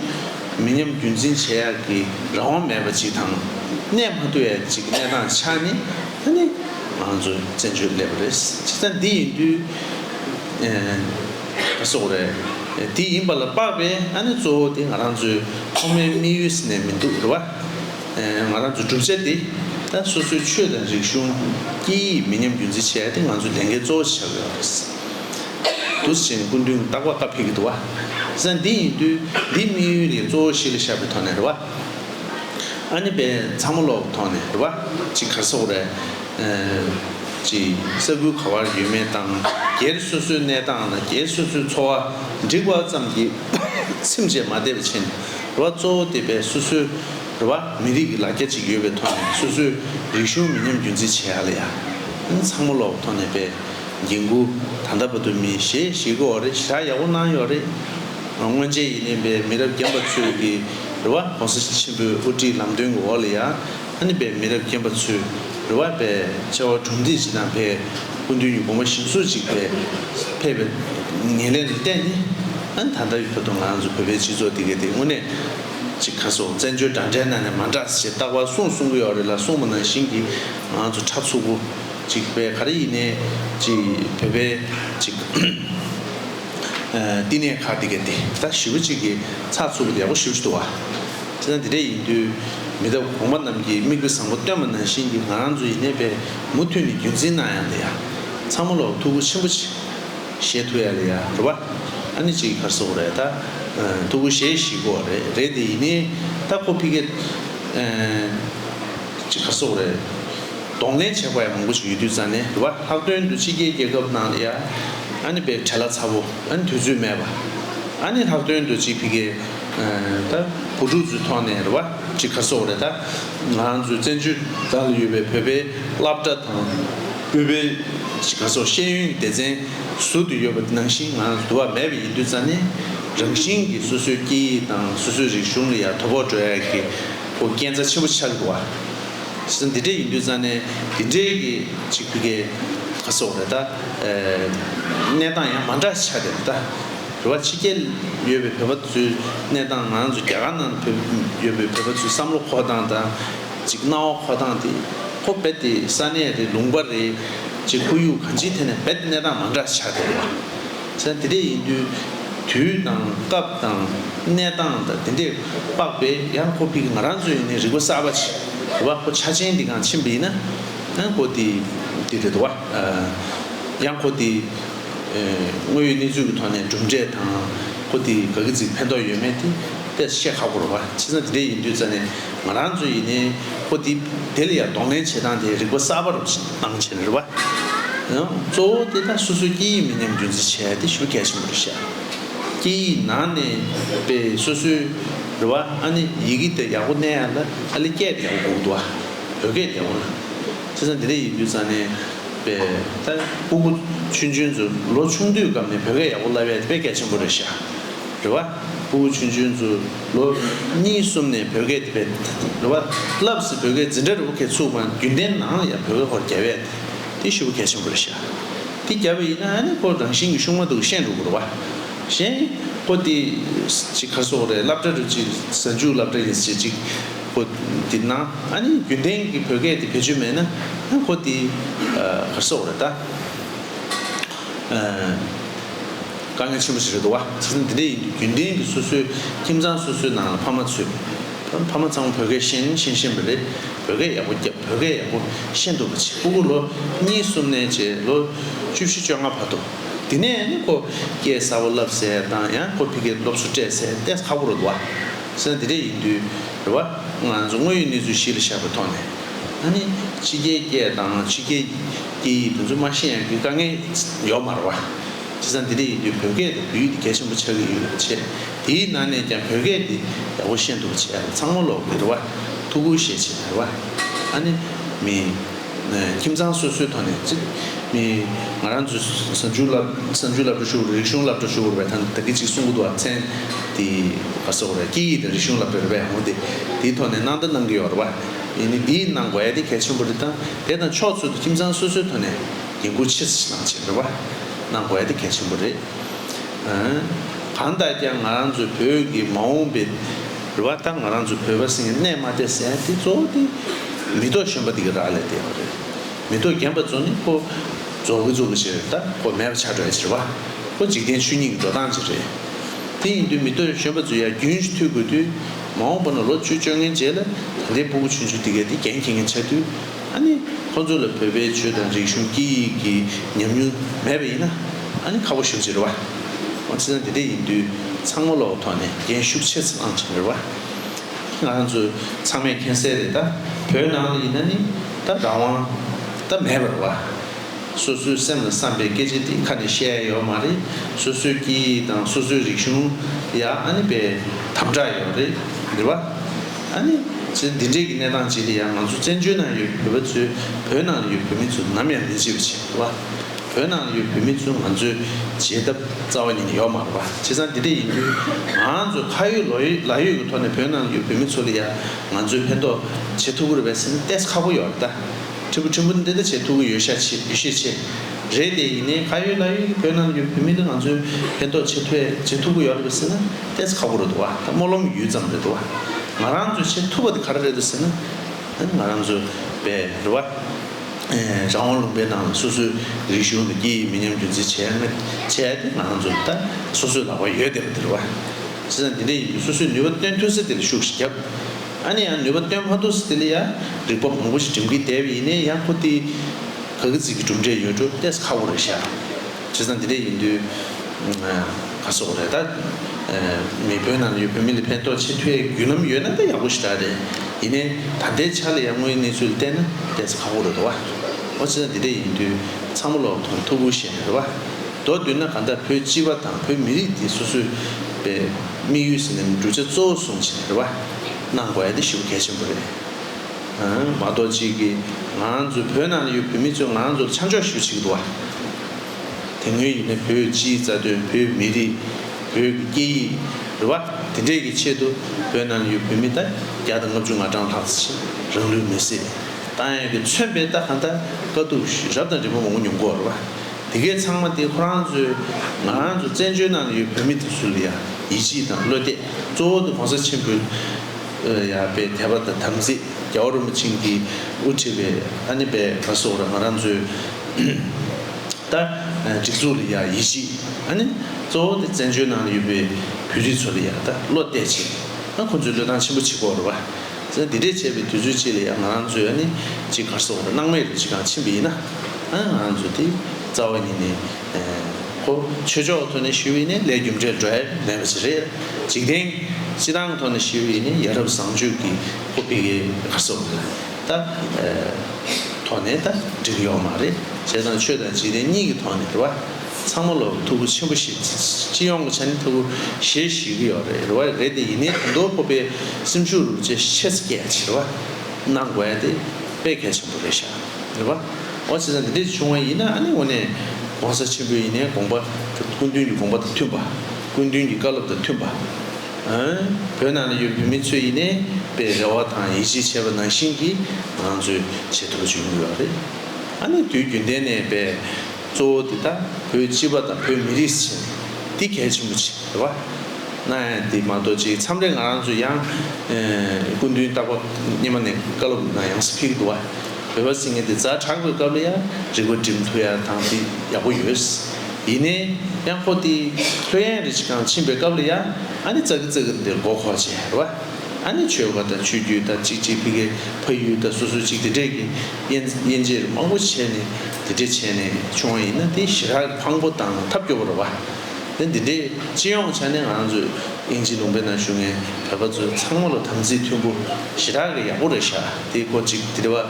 མི་ཉམས་རྒྱུན་འཛིན་བྱེད་ཡག་གི་རང་དབང་མེད་པ་ཅིག་དང། གནས་མ་ཐུབ་ཡག་ཅིག་གི་གནས་སྟངས་ཆགས་ནས་ད་ནི་ང་ཚོ་བཙན་བྱོལ་སླེབས་པ་རེད། ཅི་ད་འདི་ཡིན་དུས་ཨ་སོགས་རེད། འདི་ཡིན་པ་ལ་དཔག་པས་ཨ་ནི་གཙོ་བོ་དེ་ང་རང་ཚོའི་ཐོག་མའི་དམིགས་ཡུལ་ཟེར་ནས་མི་འདུག་རེད་བ། ང་རང་ཚོའི་གྲུབ་ཆ་འདི་ད་སོ་སོའི་ཆོས་དང་རིག་གཞུང། སྐད་ཡིག་མི་ཉམས་རྒྱུན་འཛིན་བྱས་ཏེ་ང་ཚོའི་ལས་འགན་གཙོ་བོ་བྱ་དགོས་རེད། དུས་ཆེན་སྐུ་མདུན་རྟག་པ་ཀ་ཕེབས་ཀྱི་འདུག་བ་ས་འདི་ཡིན་དུས་འདི་དམིགས་ཡུལ་ལས་གཙོ་བོ་ཞིག་ལ་བཞག་པའི་ཐོག་ནས་རེད་བ། ཨ་ནེ་བས་ཚང་མ་ལོག་གི་ཐོག་ནས་རེད་བ་ཅིག་གར་ས་འོག་རེད། ཅིག་ས་ཁུལ་ག་བར་ཡོད་མེད་དང་སྒེར་སོ་སོའི་གནས་སྟངས་དང་སྒེར་སོ་སོའི་འཚོ་བ་འགྲིག་བ་ཙམ་གྱིས་སེམས་བཅས་མ་བདེ་བ་ཕྱིན། རེ་བ་གཙོ་བོ་དེ་བས་སོ་སོའི་རེ་བ་མི་རིགས་ཀྱི་ལ་རྒྱ་གཅིག་ཡོད་པའི་ཐོག་ནས་སོ་སོའི་རིག་གཞུང་མི་ཉམས་རྒྱུན་འཛིན་བྱེད་ཨ་ལ་ཡ། ཨིན་ཚང་མོ་ལོག་ཐོག་ནས་པའི་འགན་ཁུར་ད་ལྟ་བ་དུ་མིན་ཞེས་ཞིག་དགོས་བ་རེད་ཞག་ཡག་པོ་གནང་ཡོད་རེད། སྔོན་ཆད་ཡིན་ནས་པའི་མི་རབས་རྒན་པ་ཚོས་ཀྱི་རེ་བ་གོང་ས་ཆེན་པོའི་དབུ་ཁྲིད་ལམ་སྟོན་གྱི་འོག་ལ་ཡ། ཨ་ནི་པའི་མི་རབས་རྒན་པ་ཚོས་རེ་བ་པའི་བཅའ་བ་གྲུབ་འདེགས་བྱེད་སྟངས་ཕལ་སྐུ་མདུན་གྱི་དགོངས་པ་བཞིན་སུ་གཅིག་ཕལ་ཕལ་བའི་ངེས་ལེན་ལ་བརྟེན་ནས་ཨ་ནི་ད་ལྟ་བའི་བོད་དོན་ང་ཚོ་བོད་པའི་སྤྱི་ཚོགས་འདི་གའི་དེ་དངོས་གནས་ཀྱི་ཁ་སོ་བཙན་བྱོལ་དྲ་འདྲེན་ནང་ནས་མ་འདྲ་ཞེས་རྟག་པར་གསུངས་གསུང་གི་ཡོག་རེད་ལ་གསུངས་པ་ནང་བཞིན་གྱི་ང་ཚོ་ཁྲག་འཚུབ་པོ་ཅིག་བས་ག་རེ་ཡིན་ནའི་ཅིག་བོད་པའི་ཅིག་བསྟི་གནས་ཁག་འདི་གའི་དེ་ད་ཞི་བོ་ཅིག་གི་ཚགས་ཚུད་པོ་དེ་ཡག་པོ་ཞུ་ཅི་ཐུབ་བ། ཁྲི་ཚང་འདི་འདྲ་ཡིན་དུས། མི་ཐབས་གོང་པ་རྣམས་ཀྱིས་དམིགས་དཔེ་བཟང་པོ་བཏོན་པ་ནང་བཞིན་གྱི་ང་རང་ཚོ་ཡིན་ནའི་པས་མུ་མཐུད་ནས་རྒྱུན་འཛིན་གནང་ཡ་ལ་ཡ། ཚང་མ་ལོག་ཐུགས་ཁུར་ཆེན་པོ་བྱེད། ཞེས་ཐུགས་ཡ་ལ་ཡ་རུ་བ། ཨ་ནི་ཅིག་ཁར་སོག་རེད་ད། ཐུགས་ཁུར་བཞེས་ཤིག་གོ་རེད་རེད་དེ་ཡིན་ནའི་ད་ཁོ་ཕི་ཁེད། ཨ་ཅིག་ཁར་སོག་རེད། གདོང་ལེན་བྱེད་པ་ཡ་མང་པོ་ཞིག་ཡོད་དུས་རྩ་ནས་རུ་བ་ལྷག་དོན་དུ་ཕྱི་རྒྱལ་རྒྱལ་ཁབ་གནང་ལ་ཡ། ཨ་ནི་པས་བྲེལ་ལ་ཚ་བོ་ཨ་ནི་དུས་ཚོད་མེད་པ། ཨ་ནི་ལྷག་དོན་དུ་ཅིག་ཕི་ཁེད། ད་བུ་ཕྲུག་ཚོའི་ཐོག་ནས་རེ་བ་ཅིག་ཁ་སོག་རེ་ད་ང་རང་ཚོའི་བཙན་བྱོལ་དག་ལ་ཡོད་པའི་བོད་པའི་བླ་བཀྲ་དང་དབུས་པའི་ཅིག་ཁ་སོག་ཤེས་ཡོན་གྱི་སྡེ་ཚན་ཟུར་དུ་ཡོད་པ་ནང་བཞིན་ང་རང་ཚོ་དུ་བ་མེད་པ་ཡིན་དུས་རྩ་ནས་རང་བཞིན་གྱི་སོ་སོའི་སྐད་ཡིག་དང་སོ་སོའི་རིག་གཞུང་ལ་ཡང་དོ་ཕོག་འགྲོ་ཡ་གི་བུ་རྐྱེན་རྩ་ཆེན་པོ་ཆགས་གི་བ་སོ་འདི་འདྲ་ཡིན་དུས་རྩ་ནས་འདི་འདྲའི་གི་ཅིག་བུ་གའི་ཁ་སོག་རེ་ད་གནས་སྟངས་ཡང་མ་འདྲ་ཆགས་ཀྱི་རེ་ད། བོད་པ་ཕྱི་རྒྱལ་ཡོད་པའི་བོད་པ་ཚོའི་གནས་སྟངས་ང་ཚོ་རྒྱ་གར་ནང་བོད་ཡོད་པའི་བོད་པ་ཚོའི་བསམ་བློ་འཁོར་སྟངས་དང། ཅིག་སྣང་བ་འཁོར་སྟངས་དེ་ཁོ་རྦད་དེ་ས་གནས་རེད་ལུང་པ་རེད་ཅེས་ཁོར་ཡུག་གང་ཅིའི་ཐད་ནས་རྦད་དེ་གནས་སྟངས་མ་འདྲ་ཆགས་བསྡད་ཡོད། ཚེ་འདི་འདྲས་ཡིན་དུས་དུས་དང་སྐབས་དང་གནས་སྟངས་དང་འདི་འདྲས་དཔག་པས་ཡང་ཁོ་ཕིག་ང་རང་ཚོའི་ནས་རིག་པ་གསར་པ་ཆེ་བ་ཁོ་ཆ་ཆེན་འདི་གང་ཕྱིན་པ་ཡིན་ན་ཡང་ཁོ་དེ་འདྲས་རེད་དོ་བ། ཡང་ཁོ་དེ། དངོས་ཡོད་གནས་ཚུལ་གྱི་ཐོག་ནས་གྲུབ་འབྲས་དང་པོ་དེ་ག་གི་ཚིག་ཕན་ཐོགས་ཡོད་མེད་དེ་གཏད་སོ་བཤད་ཁག་པོ་རུ་བ་ཕྱི་ས་དེ་འད་ཡིན་དུས་ཙ་ནས་ང་རང་ཚོས་ཡིན་ནའི་པོ་དེ་དེ་ལ་ཡ་གདོང་ལེན་བྱེད་སྟངས་དེ་རིག་པ་གསར་པ་རུ་གཏང་བྱེད་རུ་བ། གཙོ་བོ་དེ་ད་སོ་སོའི་སྐད་ཡིག་མི་ཉམས་རྒྱུན་འཛིན་བྱས་དེ་ཞུ་གལ་ཆེན་པོ་རུ་བཤད། སྐད་ཡིག་ནང་ནས་པའི་སོ་སོའི་རུ་བ་ཨ་ནི་ཡི་གེ་དེ་ཡག་པོ་གནས་ཡ་ལ་ཨ་ལི་སྐད་དེ་ཡག་པོ་གོ་དགོས་དུ་བ་བོད་སྐད་དེ་ཡག་པོ་ན་ཕྱི་ས་དེ་འད་ཡིན་དུས་ཙ་ནས། པས་ད། སྤུ་གུ། ཆུན་ཆུན་ཛུ། ལོ་ཆུང་དུས་སྐབས་ནས་བོད་སྐད་ཡག་པོ་བསླབས་ཡས་དེ་པས་སྐད་ཆེན་པོ་རེད་ཤག། རེད་བ། སྤུ་གུ་ཆུན་ཆུན་ཛུ། ལོ། གཉིས་གསུམ་ནས་བོད་སྐད་དེ་པས། རེད་བ། བསླབས་ཟིན་བོད་སྐད་འཛིན་གྲྭ་རི་བོ་ཁའི་ཚུགས་དབང་རྒྱུན་ལྡན་ནང་ལ་ཡང་བོད་སྐད་ཧོར་རྒྱ་བས་ཏེ་དེ་ཤུ་བོ་སྐད་ཆེན་པོ་རེད་ཤག། དེ་རྒྱ་བས་ཡིན་ན་ཨ་ནེ་ཀོ་རང་བཞིན་གྱི་ཤུགས་མ་འདུག་ཤེས་འགྲོ་དགོས་རེད་བ། གཞན། པོ་ཏི། ཅིག་ཁ་སོག་རེད་བསླབ་གྲྭ་རེད་ཅིག་གཟའ་མཇུག་བསླབ་གྲྭ་ཡིན་ཟེར་ཅིག། ཁོ་དེ་ན་ཨ་ནི་རྒྱུན་ལྡན་གྱི་བོད་སྐད་དེ་བེད་སྤྱོད་མེད་ན་ཨ་ཁོ་དེ་གར་སོག་རེད་ད། དཀའ་ངལ་ཆེན་པོ་ཞིག་རེད་འདུག་བ་ཚིག་ཟིན་འདི་འདྲ་ཡིན་འདུག་རྒྱུན་ལྡན་གྱི་སོ་སོའི་ཁྱིམ་ཚང་སོ་སོའི་ནང་ལ་ཕ་མ་ཚོས་ཕ་མ་ཚང་མ་བོད་སྐད་ཤན་ཤན་ཤན་པ་རེད་བོད་སྐད་ཡག་པོ་སྐྱབས་བོད་སྐད་ཡག་པོ་ཤན་འདུག་བ་ཚིག་སྤུ་གུ་ལོ་གཉིས་གསུམ་ནས་བཅས་ལོ་བཅུ་བཞི་བཅོ་ལྔ་བར་འདུག་དེ་ནས་ཨ་ནི་ཁོ་སྐད་གསར་བོ་བསླབས་ཟེར་དང་ཡང་ཁོ་ཕི་སྐད་སློབ་གསོ་སྤྲད་ཟེར་བལྟས་ཁག་པོ་རེད་འདུག་བ། ས་དེ་འདྲས་ཡིན་དུས། རེ་བ། ང་ཚོ་དངོས་ཡོད་གནས་ཚུལ་གཞི་ལ་བཞག་པའི་ཐོག་ནས། ད་ནི་ཕྱི་རྒྱལ་སྐད་དང་ཕྱི་རྒྱལ་གྱི་སྐད་ཡིག་དེ་ཚོ་མ་ཤེས་ཡང་དགོས་དཀའ་ངལ་ཡོད་མ་རེད་བ། སྤྱིར་ས་འདི་འདྲས་ཡིན་དུས་བོད་སྐད་དང་བོད་ཡིག་དེ་གལ་ཆེན་པོ་ཆགས་ཀྱི་ཡོད་པའི་ཆེད། དེའི་ནང་ནས་ཀྱང་བོད་སྐད་འདི་ཡག་པོ་ཤེས་འདུག་པ་བྱས་ན་ཚང་མ་ལོག་དགོས་རེད་བ། ཐུགས་ཁུར་བཞེས་ཆེད་རེད་བ། ད་ནི་མི། ཁྱིམ་ཚང་སོ་སོའི་ཐོག་ནས་ཚེ་མི་ང་རང་ཚོས་བསམ་ཆུའི་བསླབ་བསམ་ཆུའི་བསླབ་བྲོ་ཞུ་རིག་གཞུང་བསླབ་བྲོ་ཞུ་རུ་བའི་ཐང་ད་གི་ཅིག་གསུང་གུ་དུ་བ་མཚན་དེ་བ་སོགས་རེད་སྐད་ཡིག་དང་རིག་གཞུང་བསླབ་བྲོ་རེ་བས་འོང་སྟེ་དེའི་ཐོག་ནས་གནང་ད་གནང་གི་ཡོག་རེད་བ་ཡིན་ནི་འདི་གནང་དགོས་ཡ་དེ་གལ་ཆེན་པོ་རེད་ད་དེ་དང་ཕྱོགས་ཚུལ་དུ་ཁྱིམ་ཚང་སོ་སོའི་ཐོག་ནས་འགན་ཁུར་ཆེ་ས་ཞིག་གནང་བྱས་རེད་བ་གནང་དགོས་ཡ་དེ་གལ་ཆེན་པོ་རེད། གང་ལྟར་ཀྱང་ང་རང་ཚོའི་བོད་ཀྱི་མ་འོངས་པའི། རེ་བ་ལྟར་ང་རང་ཚོ་བོད་པ་སེང་གནས་མ་དེ་སེང་དེ་གཙོ་བོ་དེ་མེ་ཏོག་གཞོན་པ་དེ་གི་རག་ལས་དེ་ཡོང་རེད། མེ་ཏོག་རྒན་པ་ཚོ་ནི་ཁོ་རྫོགས་ཀི་རྫོགས་ཀི་བྱེད་རེད་ད་ཁོ་མེད་པ་ཆགས་བྲལ་བྱེད་རེད་བ་ཁོ་འཇིག་རྟེན་ཆོས་ཉིད་ཀི་འགྲོ་སྟངས་བྱེད་རེད། དེ་ཡིན་དུས་མེ་ཏོག་གཞོན་པ་ཚོ་ཡར་རྒྱུན་ཞུ་ཐུད་དགོས་དུས་མ་འོངས་པ་ན་ལོ་བཅུ་བཅོ་ལྔའི་རྗེས་ལ་ད་ལྟའི་སྤུ་གུ་ཆུན་ཆུན་དེ་གའི་དེ་རྒྱན་འཁྱེར་མཁན་ཆགས་དུས། ཨ་ནི། ཁོ་ཚོ་ལ་བོད་པའི་ཆོས་དང་རིག་གཞུང་སྐད་ཡིག་གི་ཉམས་མྱོང་མེད་པ་ཡིན་ན། ཨ་ནི་ཁ་བོ་ཞིབ་ཅིག་རེད་བ། ཁོང་ཚེ་སྲང་དེ་འདྲས་ཡིན་དུས་ཚང་མ་ལོག་ཐོག་ནས་རྒན་ཤུགས་ཆེ་ཙམ་ཨང་ཆིངས་རེད་བ། ང་རང་ཚོ་ཚང་མས་མཁྱེན་གསལ་རེད་ད། བོད་ནང་ལ་ཡིན་ན་ནི་ད་རང་དབང་ད་མེད་པར་བ། སོ་སོའི་སེམས་ལ་བསམ་པའི་སྐད་ཆ་དེ་ཁ་ནས་བཤད་ཡ་ཡོག་མ་རེད་སོ་སོའི་སྐད་ཡིག་དང་སོ་སོའི་རིག་གཞུང་ཡ་ཨ་ནི་པའི་དམ་དྲག་ཡོག་རེད་རེད་བ། ཨ་ནི། ཚེ་འདི་འདྲས་ཀྱི་གནས་སྟངས་བྱས་ཏེ་ཡང་ང་ཚོ་བཙན་བྱོལ་ནང་ཡོད་བོད་པ་ཚོས་བོད་ནང་ལ་ཡོད་བོད་མི་ཚོ་ནམ་ཡང་མི་བརྗེད་པ་བྱེད་དགོས་པ། བོད་ནང་ལ་ཡོད་བོད་མི་ཚོས་ང་ཚོའི་བརྗེད་ཐབས་རྩ་བ་ཉིད་ནས་ཡོག་མ་རེད་པ་བྱས་ཙང་འདི་འདྲས་ཡིན་དུས་ང་ཚོས་ཁ་ཡོད་ལོ་ཡོད་ལག་ཡོད་ཀྱི་ཐོག་ནས་བོད་ནང་ལ་ཡོད་བོད་མི་ཚོ་ལ་ཡང་ང་ཚོས་ཕན་ཐོགས་བྱེད་ཐུབ་པོ་རེད་པས་སེམས་གཏད་ཁག་པོ་ཡོག་རེད་ད། ཁྲི་པོ་ཁྲི་འབུ་འདི་འདྲ་བྱེད་ཐུབ་ཀྱི་ཡོད་ཤས་ཆེ་ཡོད་ཤས་ཆེ་རེད་དེ་ཡིན་ནའི་ཁ་ཡོད་ལག་ཡོད་ཀྱི་བོད་ནང་ལ་ཡོད་བོད་མི་ལ་ང་ཚོས་ཕན་ཐོགས་བྱེད་ཐུབ་བྱེད་ཐུབ་ཀྱི་ཡོག་རེད་པས་སེམས་ཏེས་ཁག་པོ་རེད་འདུག་བ་ད་སྨོན་ལམ་ཡུད་ཙམ་རེད་འདུག་བ་ང་རང་ཚོས་བྱེད་ཐུབ་པ་དེ་ག་རེ་རེད་འདུག་ཟེར་ན། ང་རང་ཚོས་བེ་རི་བ། རང་དབང་ལུང་པའི་ནང་ལ་སོ་སོའི་རིག་གཞུང་དང་སྐད་ཡིག་མི་ཉམས་རྒྱུན་འཛིན་བྱས་ཡ་མེད་བྱས་ཏེ་ང་རང་ཚོས་ད་སོ་སོའི་ལག་པ་ཡོད་བསྡད་པ་དེ་རེད་བ། བྱས་ཙང་དེ་འདྲས་ཡིན་དུས་སོ་སོའི་ནུས་པ་བཏོན་ཐུབ་ས་དེ་ལ་ཤུགས་ཤིག་རྒྱབ། ཨ་ནི་ཡང་ནུས་པ་བཏོན་མ་ཐུབ་ས་དེ་ལ་ཡ་རིག་པ་མང་པོ་ཞིག་འགྲིམ་གིན་བསྡད་པ་ཡིན་ནའི་ཡ་ཁོ་ཏི། ག་གི་ཚིག་གི་གྲུབ་འབྲས་ཡོད་འགྲོ་ཏེས་ཁག་པོ་རེད་ཤག། བྱས་ཙང་འདི་འདྲས་ཡིན་དུས། ཨ་སོགས་རེད་ད། མི་བོད་ནང་ལ་ཡོད་བོད་མི་ལ་ཕན་ཐོགས་ཆེ་མཐོའི་རྒྱུ་ལམ་ཡོད་ན་ད་ཡག་པོ་ཞིག་རག་རེད། ཡིན་ནའི་ད་ལྟའི་ཆ་ལ་ཡར་སྔོན་གནས་ཚུལ་ལ་བལྟས་ན་བལྟས་ཚེ་ཁག་པོ་རེད་དོ་བ། འོ་བྱས་ཙང་འདི་འདྲས་ཡིན་དུས་ཚང་མ་ལོག་ཐོང་ཐུག་པོ་ཞེ་རེད་བ། མདོར་བསྡུས་ན་གང་ལྟར་བོད་སྤྱི་བ་དང་བོད་མི་རིགས་འདི་སོ་སོའི་པའི་དམིགས་ཡུལ་ཟེར་ནའི་གྲུབ་ཆ་གཙོ་བོ་བཟུང་ཞེ་རེད་བ། གནང་དགོས་ཨ་འདི་ཞུ་བ་གལ་ཆེན་པོ་རེད། མ་གཏོགས་གཅིག་གིས་ང་ཚོའི་བོད་ནང་ལ་ཡོད་བོད་མི་ཚོས་ང་ཚོར་ཆ་འཇོག་ཞུ་བྱེད་ཀྱི་འདུག་བ། དེ་སྔོན་ཡིན་ན་བོད་སྤྱིའི་རྩ་དོན་བོད་མི་རིགས་བོད་ཀྱི་སྐད་ཡིག་རེད་བ། དེ་འདྲས་ཀྱི་ཆེད་དུ་བོད་ནང་ལ་ཡོད་བོད་མི་དང་བརྒྱ་དང་ལྔ་བཅུ་ང་གྲངས་ལྷག་ཅིག་རང་ལུས་མེར་སྲེག་བཏང་ཡག་གི་མཚོན་པའི་རྟགས་གང་དག་དཀའ་སྡུག་རབ་དང་རིམ་པ་མང་པོ་མྱོང་གོ་རེད་བ། དེ་གས་ཚང་མ་དེ་ཁོ་རང་ཚོའི་ང་རང་ཚོ་བཙན་བྱོལ་ནང་ལ་ཡོད་བོད་མི་དེ་ཚོ་ལ་ཡང་ཡིད་ཆེས་དང་བློ་གཏད་གཙོ་བོ་དེ་གོང་ས་ཆེན་པོའི་ཡག་པའི་དད་པ་དང་དམ་ཚིག་རྒྱ་བོར་རིན་པོ་ཆེན་གྱིས་དབུ་ཁྲིད་པའི་ཨ་ནེ་པད་མ་སོགས་རང་ང་རང་ཚོའི་ད་སྒྲིག་འཛུགས་ལ་ཡག་ཡིད་ཆེས་ཨ་ནེ། གཙོ་བོ་དེ་བཙན་བྱོལ་ནང་ལ་ཡོད་པའི་བོད་རིགས་ཚོ་ལ་ཡག་ད་བློ་གཏད་བྱས་ཨ་ཁོ་ཚོའི་བློས་བཏང་ཆེན་པོ་བྱེད་དགོས་རེད་བ། འདི་འདྲས་བྱས་པའི་དུས་ཚོད་ཅིག་ལ་ཡང་ང་རང་ཚོའི་ཨ་ནེ་གཅིག་གར་སོང་བ་རེད་སྣང་མེད་རེད་ཅིག་གང་ཕྱིན་པ་ཡིན་ན་ཨ་ང་རང་ཚོ་དེ་རྩ་བ་ཉིད་ནས། ཆོས་ཕྱོགས་ཐོག་ནས་ཞུ་བའི་ནི་ལས་རྒྱུ་འབྲས་འགྲོ་ཡ་མེད་པ་ཞིག་རེད། འཇིག་རྟེན་སྤྱི་དང་ཐོག་ནས་ཞུ་བའི་ནི་ཡ་རབས་བཟང་སྤྱོད་ཀྱི་ཧོ་པེ་ཀའི་གར་སོགས་ལ་ད་ཐོག་ནས་ད་འགྲིག་ཡོག་མ་རེད། བྱས་ཙང་ཆོས་དང་འཇིག་རྟེན་གཉིས་ཀྱི་ཐོག་ནས་རེད་བ། ཚང་མ་ལོག་ཐུ་བོ་ཆེན་པོ་ཞིག་སྤྱི་ཡོངས་ཀྱི་ཆ་ནས་ཐུ་བོ་ཞེ་ཞུས་ཀྱི་ཡོག་རེད་བ་རེད་དེ་ཡིན་ནའི་དོན་དུ་ཧོ་པེ་སེམས་ཤུགས་རུ་ཅེ་ཤེས་ཚེ་སྐད་ཆེར་བ་གནང་དགོས་ཡ་དེ་དཔེ་གལ་ཆེན་པོ་རེད་ཤག། རེད་པ། འོ་བྱས་ཙང་དེ་འདྲས་བྱུང་བ་ཡིན་ན་ནི་འོ་ནས། གོང་ས་ཆེན་པོའི་ཡིན་ནའི་དགོངས་པ། སྐུ་མདུན་གྱི་དགོངས་པ་དང་མཐུན་པ། སྐུ་མདུན་གྱི་བཀའ་སློབ་དང་མཐུན་པ། བོད་ནང་ན་ཡོད་བོད་མི་ཚོས་ཡིན་ནའི་པའི་རེ་བ་དང་ཡིད་ཆེས་བྱས་པ་ནང་བཞིན་གྱིས་ང་ཚོས་བྱེད་ཐུབ་པ་བྱུང་ཡོད་རེད། ཨ་ནི་དུས་རྒྱུན་ལྡན་ནས་པའི། གཙོ་བོ་འདི་ལྟ་བུའི་སྤྱི་པ་དང་བོད་མི་རིགས་སུ་བྱས་ནས་འདི་གལ་ཆེན་པོ་ཆེ་རེད་བ། ན་འདི་མ་གཏོགས་ཅིག་མཚམས་རེ་ང་རང་ཚོ་ཡང་སྐུ་མདུན་སྟག་པ་སྙེ་མ་ནས་བཀའ་སློབ་ཡང་ཡང་སུ་ཕེབས་ཀྱི་འདུག་བ། བོད་པ་སིང་ངེ་འདི་རྫ་དྲག་པོའི་སྐབས་ལ་ཡང་རིག་པ་འགྲིམ་ཐུབ་ཡ་དང་འདི་ཡག་པོ་ཡོད། ཡིན་ནའི་ཡང་ཁོ་འདི་ལྷོད་ཡན་རི་ཆི་ཁང་ཕྱིན་པའི་སྐབས་ལ་ཡང་ཨ་ནི་ཙག་གི་ཙག་གི་འདིར་མགོ་འཁོར་བྱས་རེད་བ། ཨ་ནི་ཆོལ་ཁ་དང་ཆོས་རྒྱུད་དང་ཅིག་ཅིག་ཕི་གའི་ཕ་ཡུལ་དང་སོ་སོ་ཅིག་འདི་འདྲས་ཀྱི། དབྱེ་འབྱེད་མང་པོ་བྱས་ནས་དེ་འདྲས་བྱས་ནས་བྱུང་བ་ཡིན་ན་དེ་ཞི་རགས་ཕངས་པོ་དང་ཐབས་སྐྱོ་བོ་རེད་བ། དེ་འདི་འདྲས་སྤྱི་ཡོངས་ཆ་ནས་ང་རང་ཚོས་དབྱིན་ཇི་ལུང་པའི་ནང་བཞུགས་ནས་བོད་པ་ཚོས་ཚང་མ་ལ་དམ་ཚིག་མཐུན་པོ་ཞི་རགས་ཀྱི་ཡག་པོ་རེ་བཞག་དེ་སྐོར་ཅིག་དེ་འདྲས་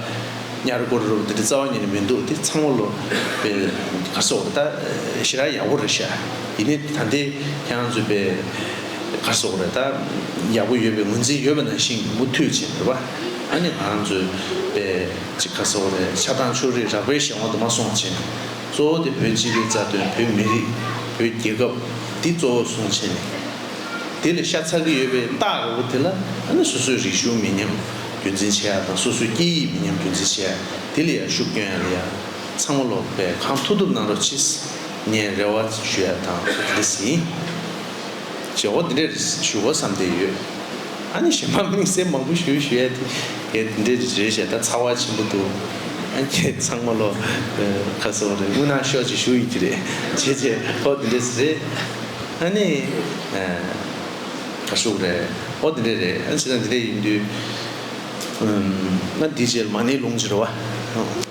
བ། ཉར་སྐོར་རུ་དེ་འདྲས་རྩ་བ་ཉིད་ནས་མི་འདུག་དེ་ཚང་མ་ལོ་པའི་ཁ་སོགས་རེ་ད་ཞི་རགས་ཡག་པོ་རེ་བཞག་ཡིན་ནའི་ད་ལྟའི་ཁྱེད་རང་ཚོས་པའི་ཁ་སོགས་རེ་ད་ཡག་པོ་ཡོད་པའི་ངོས་འཛིན་ཡོད་པ་ནང་བཞིན་མུ་མཐུད་བྱེད་དགོས་བ། ཨ་ནི་ང་རང་ཚོའི་པའི་གཅིག་ག་ས་བ་རེད་ཆགས་སྡང་ཕྱོགས་རིས་རགས་པའི་ཞེན་དབང་དུ་མ་སོང་བྱས་ནས་གཙོ་བོ་དེ་བོད་སྤྱི་པའི་རྩ་དོན་བོད་མི་རིགས་བོད་རྒྱལ་ཁབ་འདི་གཙོ་བོར་བཟུང་བྱས་ནས་དེ་ལས་ཤ་ཚ་གི་ཡོད་པའི་རྟགས་རེད་བོ་དེ་ལ་ཨ་ནི་སོ་སོའི་རིག་གཞུང་མི་ཉམས་རྒྱུན་འཛིན་བྱེད་ཡ་དང་སོ་སོའི་སྐད་ཡིག་མི་ཉམས་རྒྱུན་འཛིན་བྱེད་ཡ་དེ་ལ་ཡ་ཤུགས་སྐྱོན་ཡ་ལ་ཡ་ཚང་མ་ལོག་པའི་གང་ཐུབ་ཐུབ་གནང་རོགས་ཕྱིས་ངས་རེ་བ་ཞུ་ཡ་དང་ཁུ་དེ་ལས་ཟིན། བྱེད་སྒོ་འདི་འདྲས་ཞུ་དགོས་བསམ་བསྡད་ཡོད། ཨ་ནི་གཞན་མ་མིང་སྲིང་མང་པོ་ཞུ་ཞུ་ཡ་དེ་ངས་འདི་འདྲས་རེ་བྱས་ད་ཚ་བ་ཆེན་པོ་འདུག་ཨ་ཁྱེད་ཚང་མ་ལོ་ཁ་གསོ་བ་རེད་དངུལ་ནང་ཤོག་ཅིག་ཞུ་ཡི་གི་རེད་བྱས་བྱས་ཧོ་འདི་འདྲས་རེད་ཨ་ནི་ཁ་ཤུགས་རེད་ཨོ་འདི་འདྲས་རེད་ཨ་ནི་བྱས་ཙང་འདི་འདྲས་ཡིན་དུས་ཨ་འདི་བྱས་ལ་མ་ནི་ལུང་བྱེད་རོ་བ།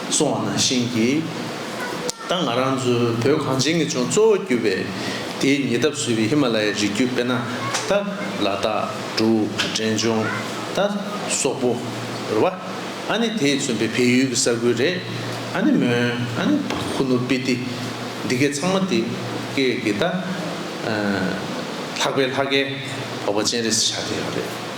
སོང་བ་ནང་བཞིན་གྱིས། ད་ང་རང་ཚོའི་བོད་གངས་ཅན་གྱི་ལྗོངས་གཙོ་བོ་གྱུར་པའི་དེའི་ཉེ་འདབས་སུ་ཡོད་པའི་ཧི་མ་ལ་ཡའི་རི་རྒྱུད་དཔེར་ན། ཏཱ་ལ་ཏཱ་གྲུ། འབྲས་ལྗོངས། ད་སོག་པོ། རེད་བ། ཨ་ནི་དེས་མཚོན་པའི་བལ་ཡུལ་གྱི་ས་ཁུལ་རེད། ཨ་ནི་མོན། ཨ་ནི་ཧུ་ནུ་པི་ཏི། འདི་གའི་ཚང་མ་དེ་གའི་གི་ད། ལྷག་པའི་ལྷ་སྐལ། བ་བ་ཅན་རེད་ཟེར་བཞག་གི་ཡོད་རེད།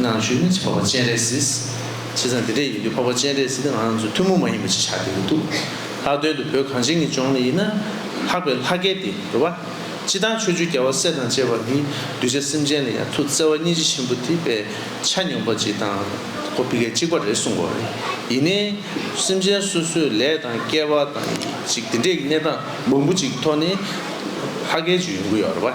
ནང་ཆོས་མིན་ཚེ་འཕགས་པ་སྤྱན་རས་གཟིགས། བྱས་ཙང་འདི་འདྲས་ཡིན་དུས་འཕགས་པ་སྤྱན་རས་གཟིགས་དང་ང་ཚོ་ཐུན་མོང་མ་ཡིན་པ་ཞིག་ཆགས་ཀྱི་ཡོད་འདུག་ལྷག་དོན་དུ་བོད་གངས་ཅན་གྱི་ལྗོངས་ནས་ཡིན་ན། ལྷག་པའི་ལྷ་སྐལ་དེ་རེད་བ། སྤྱི་བཏང་ཆོས་བཅུ་རྒྱལ་བ་སྲས་དང་བཅས་པ་འདིས་གདུལ་བྱ་སེམས་ཅན་ལ་ཡང་ཐུགས་བརྩེ་བ་སྙིང་རྗེ་ཆེན་པོ་དེ་པས་ཆ་སྙོམས་པ་ཅིག་དང་གོ་བི་གལ་གཅིག་པ་རེད་གསུངས་བ་རེད། ཡིན་ནའི། སེམས་ཅན་སོ་སོའི་ལས་དང་སྐལ་བ་དང་ཡིན་ཅིག་འདི་འདྲས་ཀྱི་གནས་སྟངས་མང་པོ་ཅིག་གི་ཐོག་ནས། ལྷ་སྐལ་ཅིག་ཡོང་གི་ཡོད་རེད་བ།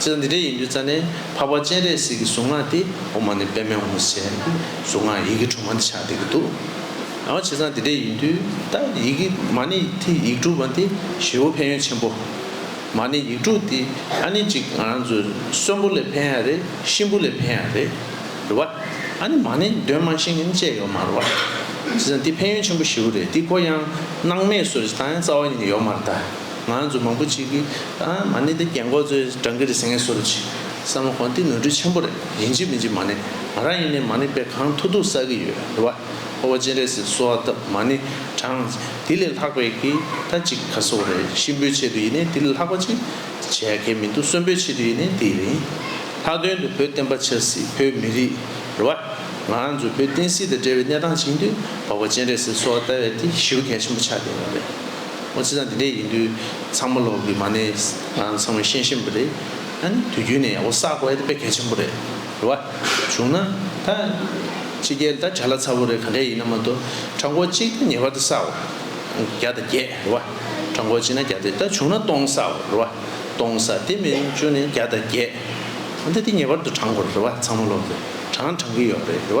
ཚེ་འདི་འདྲའི་ཡིན་རྒྱུ་རྩ་ནས་འཕགས་པ་སྤྱན་རས་གཟིགས་ཀྱི་གཟུངས་སྔགས་དེ་འོ་མ་ནི་དཔེ་མེད་འོ་མ་ཟེར། གཟུངས་སྔགས་ཡི་གེ་དྲུག་མ་འདི་ཆགས་བསྡད་ཀྱི་འདུག། ཡང་བྱས་ཙང་འདི་འདྲའི་ཡིན་དུས་ད་ཡི་གེ་མ་ནི་དེ་ཡིག་དྲུག་མ་དེ་ཞི་བོ་ཕན་ཡོན་ཆེན་པོ། མ་ནི་ཡིག་དྲུག་དེ་ཨ་ནི་གཅིག་ང་རང་ཚོའི་གསོན་པོ་ལས་ཕན་ཡང་རེད་གཤིན་པོ་ལས་ཕན་ཡང་རེད་རེད་བ། ཨ་ནི་མ་ནི་འདོན་མ་ཤིང་ནི་བཅད་ཡོག་མར་བ། བྱས་ཙང་འདི་ཕན་ཡོན་ཆེན་པོ་ཞི་བོ་རེད་འདི་ཀོ་ཡང་སྣང་མེད་སོ་ཅི་ད་ཡང་རྩ་བ་ཉིད་ནས་ཡོག་མར་གདའ། ང་རང་ཚོ་མང་པོ་གཅིག་གིས་ཨ་མ་གནས་འདི་རྒན་འཁོག་ཚོའི་བགྲང་གི་རེད་ཟེར་ངེས་སོ་རུ་གྱིས། བསམ་བློ་གོང་འདི་ནོར་འཁྲུལ་ཆེན་པོ་རེད་ཡིན་གཅིག་མིན་གཅིག་མ་གནས་ང་རང་ཡིན་ནའི་མ་གནས་པས་གང་ཐུག་ཐུག་བསགས་གི་ཡོད་རེད་བ། ཁོ་བོ་སྤྱན་རས་གཟིགས་གསོལ་བ་བཏབ་མ་ནི་གྲང། དེ་ལས་ལྷག་པའི་གི་ད་གཅིག་ག་སོག་རེད་གཤིན་པོའི་ཆེད་དུ་ཡིན་ནའི་དེ་ལས་ལྷག་པ་གཅིག་བྱས་གལ་མི་འདུག་གསོན་པོའི་ཆེད་དུ་ཡིན་ནའི་དེ་ཡིན། ལྷག་དོན་དུ་བོད་བསྟན་པ་ཆགས་སྲིད་བོད་མི་རིགས་རེད་བ། ང་རང་ཚོ་བོད་བསྟན་སྲིད་དང་འབྲེལ་བའི་གནས་སྟངས་བྱིངས་དུས་བ་ཁོ་བོ་སྤྱན་རས་གཟིགས་གསོལ་བ་བཏབ་བས་དེ་ཞི་བ་གལ་ཆེན་པོ་ཆགས་བསྡད་ཡོད་རེད། ཨོ་ཚེ་ཚང་དེ་འདྲས་ཡིན་དུས་ཚང་མ་ལོག་གི་མ་ནས་ཚང་མས་ཤེས་ཤེས་པ་རེད་ད་ནི་དུས་རྒྱུན་ནས་ཡག་པོ་བསག་དགོས་ཡ་དེ་དཔེ་གལ་ཆེན་པོ་རེད་རེད་བ་བྱུང་ན་ད་ཕྱི་རྒྱལ་ད་གྲ་ལ་ཚ་པོ་རེད་ག་འདྲས་ཡིན་ན་མ་གཏོགས་གྲ་མགོ་གཅིག་ངེས་པར་དུ་བསག་དགོས་བརྒྱ་དང་བརྒྱད་རེད་བ་གྲ་མགོ་གཅིག་ན་བརྒྱ་དེ་ད་བྱུང་ན་སྟོང་བསག་དགོས་རེད་བ་སྟོང་བསག་དེ་མིན་བཅུ་ནས་བརྒྱ་དང་བརྒྱད་ད་དེ་ངེས་པར་དུ་བགྲང་དགོས་རེད་བ་ཚང་མ་ལོག་གི་བགྲང་བགྲང་གི་ཡོད་རེད་བ།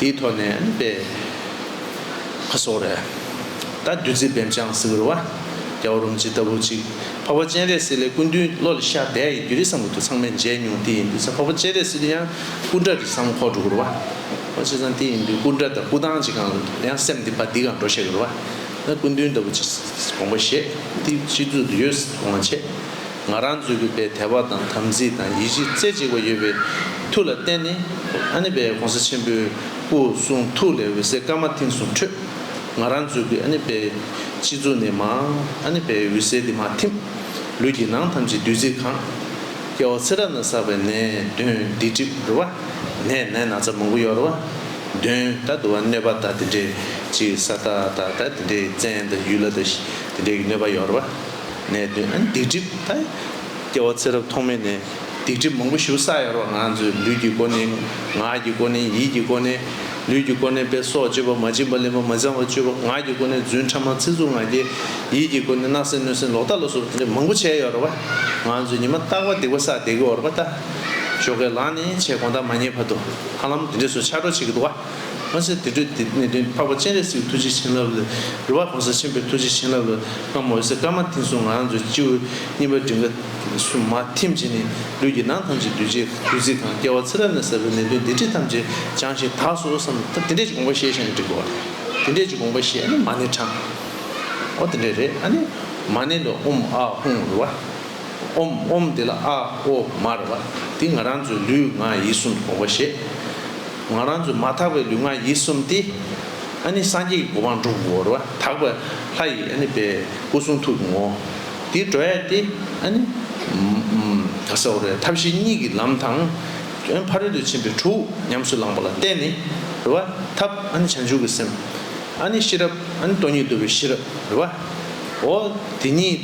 དེའི་ཐོག་ནས་ནི་པེ་ཧ་སོགས་རེད། ད་བདུད་རྩི་བེམ་ཆང་ཟེར་བའི་བ། རྒྱ་བ་རུམ་ཇི་ལྟ་བུ་ཅིག་འཕགས་པ་སྤྱན་རས་གཟིགས་ལས་སྐུ་མདུན་བློ་ལས་ཤར་བསྡད་ཡི་འདུས་རི་བསམ་གོ་དུ་ཚང་མས་མཇལ་མྱོང་དེ་ཡིན་དུས་ཚ་འཕགས་པ་སྤྱན་རས་གཟིགས་ལ་ཡང་སྐུ་འདྲ་འདི་བསམ་ཁོག་འགྲོ་གི་རུ་བ། ཨོ་ཆེ་ཚང་དེ་ཡིན་དུས་སྐུ་འདྲ་དང་སྐུ་ཐང་ཅིག་གང་ཡང་སེམས་འདི་བ་འདི་གང་འགྲོ་བཤད་གི་རུ་བ། ད་སྐུ་མདུན་ལྟ་བུ་ཅིག་དགོངས་པ་བཞེས་དེ་སྤྱི་གཙུག་ཏུ་ཡོད་ཟེར་དུས་དགོངས་བྱས། ང་རང་ཚོའི་གུས་པའི་དད་པ་དང་དམ་ཚིག་དང་ཡིད་ཆེས་རྩེ་གཅིག་པ་ཡོད་པའི་མཐུ་ལ་བརྟེན་ནས། ཨ་ནེ་པའི་གོང་ས་ཆེན་པོའི་སྐུ་གསུང་ཐུགས་ལས་འོད་ཟེར་སྐར་མ་མཐིང་གསུམ་འཕྲོས། ང་རང་ཚོའི་གུས་ཨ་ནེ་པའི་སྤྱི་གཙུག་ནས་མའང་ཨ་ནེ་པའི་འོད་ཟེར་དེ་མ་ཐིམ། ལུས་ཀྱི་ནང་ཐམས་ཅད་བདུད་རྩིས་གང། སྐྱེ་བ་ཚེ་རབས་ན་བསགས་པའི་ནད་གདོན་སྡིག་སྒྲིབ་རུལ་བ། ནད་ནད་ན་ཚ་མང་པོ་གཡོར་བ། གདོན་དང་དུ་བ་གནོད་པ་དང་དེ་འདྲའི་ཅི་ས་ད་ད་ད་དེ་འདྲའི་བཙན་དང་ཡུལ་ལ་དང་དེ་འདྲའི་གནོད་པ་གཡོར་བ། ནད་གདོན་སྡིག་སྒྲིབ་དང། སྐྱེ་བ་ཚེ་རབས་ཐོག་མེད་ནས་སྡིག་སྒྲིབ་མང་པོ་ཞུ་ས་ཡོད་རོགས་ང་ཚོས་ལུས་ཀྱི་སྒོ་ནས་ངག་གི་སྒོ་ནས་ཡིད་ཀྱི་སྒོ་ནས། ལུས་ཀྱི་སྒོ་ནས་དཔེ་སོགས་སྤྱོད་པ་མ་བྱིན་པ་ལེན་པ་མ་བྱང་བ་སྤྱོད་པ་ངག་གི་སྒོ་ནས་རྫུན་ཕྲ་མ་ཚིག་རྩུབ་ང་རྒྱལ། ཡིད་ཀྱི་སྒོ་ནས་སྣག་སེམས་གནོད་སེམས་ལོག་ལྟ་ལ་སོགས་དེ་འདྲ་མང་པོ་བྱས་ཡོད་རོགས་པ། ང་ཚོས་ཉི་མ་རྟག་པར་སྡིག་པ་བསགས་བདེ་གི་འོར་པ་ལྟ། ཞོགས་ཀའི་ལག་ནས་ཆེ་དགོངས་དག་མ་ཉེས་བར་དུ་ཧ་ལམ་དེ་འདྲས་སུ་ཆགས་འགྲོ་བྱེད་ཀྱི་འདུག་ཨ། གོང་གསལ་དུད་འགྲོའི་གནས་བདུན་འཕགས་པ་སྤྱན་རས་གཟིགས་ཐུགས་རྗེ་བྱིན་རླབས་ལས། རི་བ་གོང་ས་ཆེན་པོའི་ཐུགས་རྗེ་བྱིན་རླབས་ལས། སྔ་མ་འོད་གསལ་སྐར་མ་མཐིང་གསུམ་ངང་ཚུལ་སྤྱི་བོའི་གཉིས་པ་མགྲིན་ཁ། སུ། མ། ཐིམ་བྱས་ནས། ལུས་ཀྱི་ནང་ཐམས་ཅད་བདུད་རྗེའི་བདུད་རྩིས་གང། སྐྱེ་བ་ཚེ་རབས་ནས་བསགས་པའི་ནད་གདོན་སྡིག་སྒྲིབ་ཐམས་ཅད་སྦྱངས་ཤིང་དག་སོ་བསམ། དེ་འདྲས་ཀྱི་དགོངས་པ་བཞེས་ཤིང་འགྲིག་གོ། དེ་འདྲས་ཀྱི་དགོངས་པ་བཞེས་ནི་མ་ཎི་དྲང། ཨོ་དེ་འདྲས་རེད་ཨ་ནི། མ་ཎི་ལ་ཨུམ་ཨ་ཧུང་རུ་བ། ཨོམ་ཨོམ་དེ་ལ་ཨ་ཨོ་མ་རུ་བ། འདི་ང་རང་ཚོའི་ལུས་ངག་ཡིད་གསུམ་གྱི་དགོངས་པ་བཞེས། ང་རང་ཚོས་མ་དག་པའི་ལུས་ངག་ཡིད་གསུམ་སྟེ། ཨ་ནི་སངས་རྒྱས་ཀྱི་གོ་འཕང་འགྲུབ་བོར་བ་དག་པའི་ལྷ་ཡི་ཨ་ནི་པའི་སྐུ་གསུང་ཐུགས་ཀྱི་ངོ་བོ། འདི་འགྲོ་ཡས་ཏེ་ཨ་ནི། ས་ཨོ་རའི་ཐབས་ཤེས་གཉིས་ཀྱི་ལམ་དང། ཨོན་ཕ་རོལ་ཏུ་ཕྱིན་པའི་དྲུག་ཉམས་སུ་བླངས་པ་ལ་བརྟེན་ནས། རེ་བ། ཐབས་ཨ་ནི་བྱང་ཆུབ་ཀྱི་སེམས། ཨ་ནི་ཤེས་རབ་ཨ་ནི་སྟོང་ཉིད་བསྡུ་བའི་ཤེས་རབ་རེ་བ། ཨོ། དེ་གཉིས་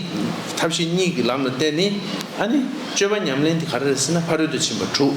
ཐབས་ཤེས་གཉིས་ཀྱི་ལམ་ལ་བརྟེན་ནས་ཨ་ནི། སྤྱོད་པ་ཉམས་ལེན་དེ་ག་རེ་རེད་ཟེར་ན་ཕ་རོལ་ཏུ་ཕྱིན་པ་དྲུག།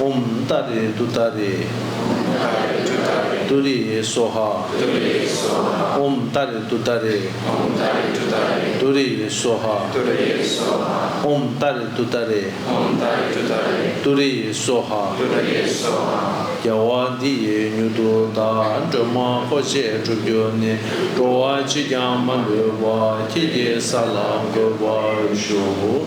འོམ། ཏཱ་རེ་ཏུ་ཏཱ་རེ། ཏུ་རེ་ཡེ་སོ་ཧ། འོམ། ཏཱ་རེ་ཏུ་ཏཱ་རེ། ཏུ་རེ་ཡེ་སོ་ཧ། འོམ། ཏཱ་རེ་ཏུ་ཏཱ་རེ། ཏུ་རེ་ཡེ་སོ་ཧ། རྒྱལ་བ་འདི་ཡི་མྱུར་དུ་བདག་སྒྲོལ་མ་འཁོར་བཅས་བསྒྲུབ་རྒྱུ་ནི་འགྲོ་བ་ཅིས་ཀྱང་མ་ལུས་པ་ཁྱེད་ཀྱི་ས་ལ་འགོད་པར་ཞུ།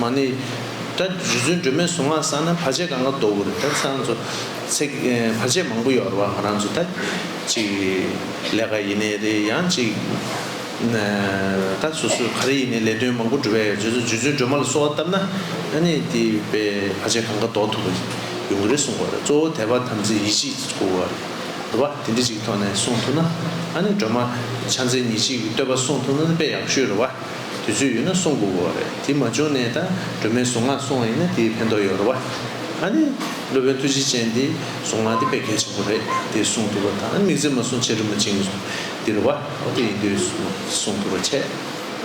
མ་ནི། སྒྲ་རྗེ་བཙུན་སྒྲོལ་མའི་གཟུངས་སྔགས་བསགས་ན་བར་ཆད་གང་གཱ་ཟློག་གོ་རེ་ད་ཚེ་རང་ཚོ། བར་ཆད་མང་པོ་ཡོད་རེད་བ་ང་རང་ཚོ་ད་ཅིག་ལས་ཀ་ཡིན་ནའི་རེད་ཡང་ཅིག། ད་སོ་སོས་ག་རེ་ཡིན་ནའི་ལས་དོན་མང་པོ་འགྲུབ་ཡ་ཡོད་ཚོད་རྗེ་བཙུན་སྒྲོལ་མ་ལ་གསོལ་བ་བཏབ་ན་ཨ་ནི་དེ་བས་བར་ཆད་གང་གཱ་ཟློག་ཐུབ་པ་ཡོང་གི་རེད་གསུངས་པ་རེད་གཙོ་བོ་དད་པ་དམ་ཚིག་ཡིད་ཆེས་ཀྱི་སྐོར་བ་རེད་བ་དེ་འདྲི་ཅིག་ཐོག་ནས་གསུངས་ཐུབ་ན་ཨ་ནི་སྒྲོལ་མ་ཕྱག་མཚན་ཉིད་གཅིག་གི་བསྟོད་པ་གསུངས་ཐུབ་ན་དཔེ་ཡག་པོ་ཤོས་རེད་བ། དུས་ཚོད་ཡོད་ན་སོང་དགོས་གོ་རེད་དེ་མ་བྱུང་ནས་ད་སྒྲོལ་མའི་གཟུངས་སྔགས་སོང་བ་ཡིན་ན་དེའི་ཕན་ཐོག་ཡོད་རེད་བ། ཨ་ནི་སློབ་དཔོན་ཐུགས་རྗེ་ཅན་དེས་གཟུངས་སྔགས་དེ་དཔེ་གལ་ཆེན་པོ་རེད་དེ་གསུངས་འདུག་བ་དང་མིག་རྫི་མ་སོང་ཆེ་དྲི་མ་བྱིན་འདི་རེད་བ་ཨོ་དེ་ཡིན་དུས་གསུངས་འདུག་བ་ཆད་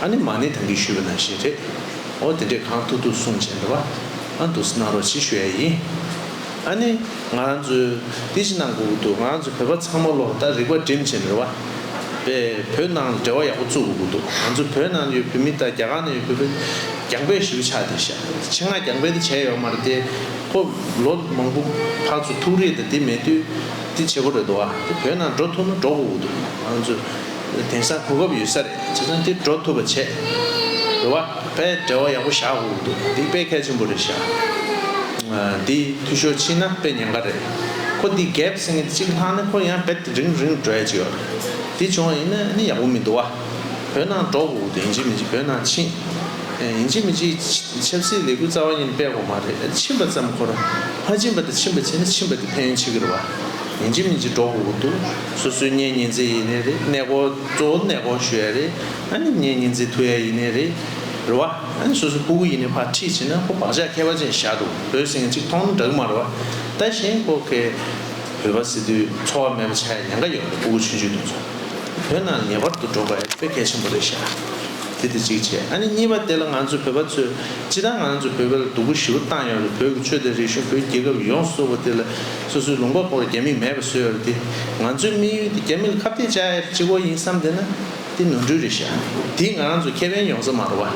ཨ་ནི་མ་ནི་ད་གིས་ཞུས་པ་ན་ཞེས་རེད་ཨོ་དེ་འདྲས་གང་ཐུག་ཐུག་གསུངས་བྱས་འདུག་བ་ཨ་འདུག་སྣང་རོགས་ཅིག་ཞུ་ཡ་ཡིན། ཨ་ནི། ང་རང་ཚོའི། ཏི་ཤི་ནང་གུག་འདུག་ང་རང་ཚོའི་བོད་པ་ཚང་མ་ལོ་ལྟར་རིག་པ་འགྲིམ་བྱེད་མི་ར་བ། པས་བོད་ནང་ལ་འབྲེལ་བ་ཡག་པོ་བཙུག་གུག་འདུག་ང་ཚོ་བོད་ནང་ཡོད་བོད་མི་དང་རྒྱ་གར་ནང་ཡོད་བོད་པ། རྒྱང་འབོད་ཞིབ་ཆགས་དེ་ཤ་ཆེ་ང་རྒྱང་འབོད་དེ་བྱས་ཡོག་མ་རེད་དེ། ཁོ། ལོ། མང་པོ། ཕག་ཚོ་ཐུག་རེད་དེ་དེ་མེད་དུས། ཏི་ཆེ་པོ་རེད་དོ་ཨ་དེ་བོད་ནང་འགྲོ་ཐུབ་ན་འགྲོ་གུག་འདུག་ང་རང་ཚོའི། དེང་སང་གོ་སྐབས་ཡོད་ས་རེད་བྱས་ཙང་འདིར་འགྲོ་ཐུབ་པ་བྱེད། རེ་བ། པས་འབྲེལ་བ་ཡག་པོ་བཞག་དགོས་ཀྱི་འདུག་འདི་དཔེ་གལ་ཆེན་པོ་རེད་བཞག། འདི་འཐུས་ཤོར་ཕྱིན་ན་དཔེ་ཉེན་ཁ་རེད། ཁོ་འདི་གས་བསྲིངས་ངེད་གཅིག་ལྷག་ནི་ཁོ་ཡང་བེད་རིང་རིང་འགྲོ་ཡ་ཅིག་ཡོད་རེད། འདི་བྱུང་བ་ཡིན་ན་ནི་ཡག་པོ་མི་འདུག་བ། བོད་ནང་འགྲོ་དགོས་ཀྱི་འདུག་ཡིན་གཅིག་མིན་གཅིག་བོད་ནང་ཕྱིན། ཡིན་གཅིག་མིན་གཅིག་ཆབ་སྲིད་ལས་འགུལ་རྩ་བ་ཉིད་སྤེལ་དགོས་མ་རེད་ཕྱིན་པ་ཙམ་ཁོ་རང་མ་ཕྱིན་པ་དང་ཕྱིན་པ་བྱས་ནི་ཕྱིན་པ་དེ་ཕན་ཡོན་ཆེ་གི་རེད་བ། ཡིན་གཅིག་མིན་གཅིག་འགྲོ་དགོས་ཀྱི་འདུག། སོ་སོའི་གཉེན་ཉེ་འཛིན་ཡིན་ནི་རེད་གནས་སྐོར་གཙོ་བོ་གནས་སྐོར་ཞུ་ཡ་རེད་ཨཱ་ནི་གཉེན་ཉེ་འཛིན་ཐུབ་ཡ་ཡིན་ནི་རེད་རེད་བ་ཨཱ་ནི་སོ་སོ་སྤུ་གུ་ཡིན་ནི་ཕར་ཁྲིད་བྱེད་ན་ཁོ་བག་ཆགས་ཁད་པ་ཅན་ཞིག་བཞག་འདུག་བོད་སེང་གེ་གཅིག་མཐོང་ན་འདྲག་མར་བ་ལྟ་བཞིན་ཁོ་གེ་བོད་པ་སི་ཏུའི་འཚོ་བ་མེད་པ་ཆགས་ཡ་ཉན་ཁ་ཡོད་པ་རེད་སྤུ་གུ་ཆུང་ཆུང་དུ་འཚོ་བོད་ནང་ངེས་པར་དུ་འགྲོ་དགོས་ཨེ་ཕོད་གལ་ཆེན་པོ་རེད་བཞག་དེ་དེ་གཅིག་བྱས་ཨཱ་ནི་གཉིས་པ་དེ་ལ་ང་ཚོ་བོད་པ་ཚོས་སྤྱི་ད་ང་ཚོ་བོད་པའི་ལ་སྡུག་པོ་ཞི་བོ་བཏང་ཡོད་རེད་བོད་ཀྱི་ཆོས་དང་རིག་གཞུང་བོད་རྒྱལ་ཁབ་ཡོངས་སུ་གསོ་བོ་དེ་ལ། སོ་སོའི་ལུང་པ་པོར་རྒྱ་མིག་མེད་པ་བཟོས་ཡོད་རེད་དེ། ང་ཚོའི་དམིགས་ཡུལ་དེ་རྒྱ་མི་ལ་ཁ་བཏད་བྱ་ཡ་རེད་ཅེས་བོ་ཡིན་བསམ་བསྡད་ན། དེ་ནོར་འཁྲུལ་རེད་ཤག། དེས་ང་རང་ཚོ་ཁེ་ཕན་ཡོང་ས་མ་རོ་བ།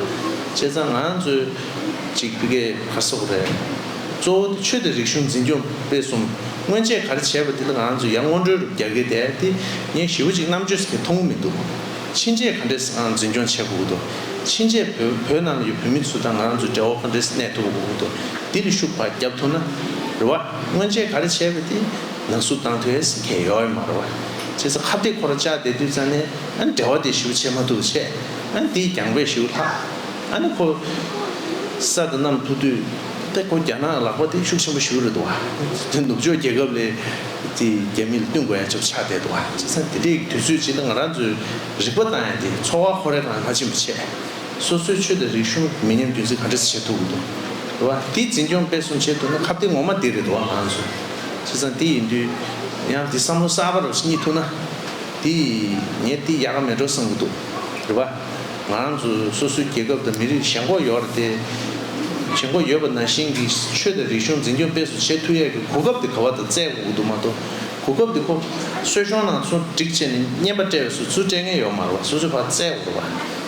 བྱས་ཙང་ང་རང་ཚོའི། ཅིག་པི་གའི་བར་སོགས་རེད། གཙོ་བོ་དེ་ཆོས་དང་རིག་གཞུང་འཛིན་སྐྱོང་སྤེལ་གསུམ། སྔོན་ཆད་ག་རེ་བྱས་པ་དེ་ལ་ང་རང་ཚོས་ཡར་སྔོན་འགྲོའི་རུབ་རྒྱག་གི་དེ་དེ། ངས་ཞི་བོ་ཅིག་རྣམ་དཔྱོད་ཟེར་མཁན་མཐོང་གི་མི་འདུག། ཕྱིན་ཆད་ག་འདྲས་ཨང་འཛིན་སྐྱོང་བྱས་གོ་གི་འདུག། ཕྱིན་ཆད་བོད་བོད་ནང་ལ་ཡོད་བོད་མི་ཚོ་དང་ང་རང་ཚོའི་འབྲེལ་བ་ག་འདྲས་གནས་ཐུབ་པ་གོ་གི་འདུག་དེ་ལ་ཤུགས་བར་རྒྱབ་ཐུབ་ན། རེ་བ། སྔོན་ཆད་ག་རེ་བྱས་པ་དེ་ན་སུ་བཏང་ཐོས་སི་ཁེ་ཡོའི་མ་རོ་བྱས་ཚ་ཁ་བདེ་ཁོ་ར་ཅག་བདེ་དུས་ཙ་ནས་ཨ་འདྲེ་བ་དེ་ཞུ་བྱས་མ་ཐུག་བྱས་ཨ་འདི་རྒྱང་པས་ཞུ་ལྷག་ཨ་ནི་ཁོ་ས་དེ་རྣམས་ཐུག་དུས་ཏེ་ཁོ་རྒྱ་ནག་ལག་པ་དེ་ཤུགས་ཆེན་པོ་ཞུ་རེད་འདུག་དེ་ནུབ་ཕྱོགས་རྒྱལ་ཁབ་ལས་དེ་རྒྱ་མི་ལ་བསྟུན་དགོས་ཡ་ཆབ་ཆག་བསྡད་འདུག་བྱས་ཚ་དེ་འདྲའི་དུས་ཚོད་ཅིག་ལ་ང་རང་ཚོའི་རིག་པ་དང་ཡ་དེ་འཚོ་བ་ཁོ་རེ་ལ་ཧ་ཆེན་པོ་བྱས། སོ་སོའི་ཆོས་དང་རིག་གཞུང་མི་ཉམས་རྒྱུན་འཛིན་ག་འདྲ་བྱེད་ཐུབ་ཀྱི་འདུག་བ། དེ་འཛིན་སྐྱོང་སྤེལ་གསུམ་བྱེད་ཐུབ་ན་ཁ་བརྡའི་ངོ་མ་དེ་རེད་འདུག་བ། ཁྱེད་ཚང་དེ་ཡིན་དུས་ཡང་དེ་བསམ་བློ་གསར་པ་རུ་སྙིགས་ཐུབ་ན། དེ་ངས་དེ་ཡག་ག་མེད་འགྲོ་བསམ་གྱི་འདུག་རེད་བ། ང་རང་ཚོ་སོ་སོའི་རྒྱལ་ཁབ་དང་མི་རིགས་ཞེན་ཁོག་ཡོད་རེད་དེ། ཞེན་ཁོག་ཡོད་པ་ནང་བཞིན་གྱི་ཆོས་དང་རིག་གཞུང་འཛིན་སྐྱོང་སྤེལ་གསུམ་བྱེད་ཐུབ་ཡག་གི་གོ་སྐབས་དེ་ག་བ་དང་བཙལ་དགོས་ཀྱི་འདུག་མ་གཏོགས་གོ་སྐབས་དེ་ཁོ་བསོད་གཞོང་ནང་སོང་སྒྲིག་བྱས་ནས་བརྙན་པ་སྤྲད་བས་སུ་ཚུལ་སྤྲད་མཁན་ཡོད་མ་རེད་བ་སོ་སོས་ཕར་བཙལ་དགོས་རེད་བ།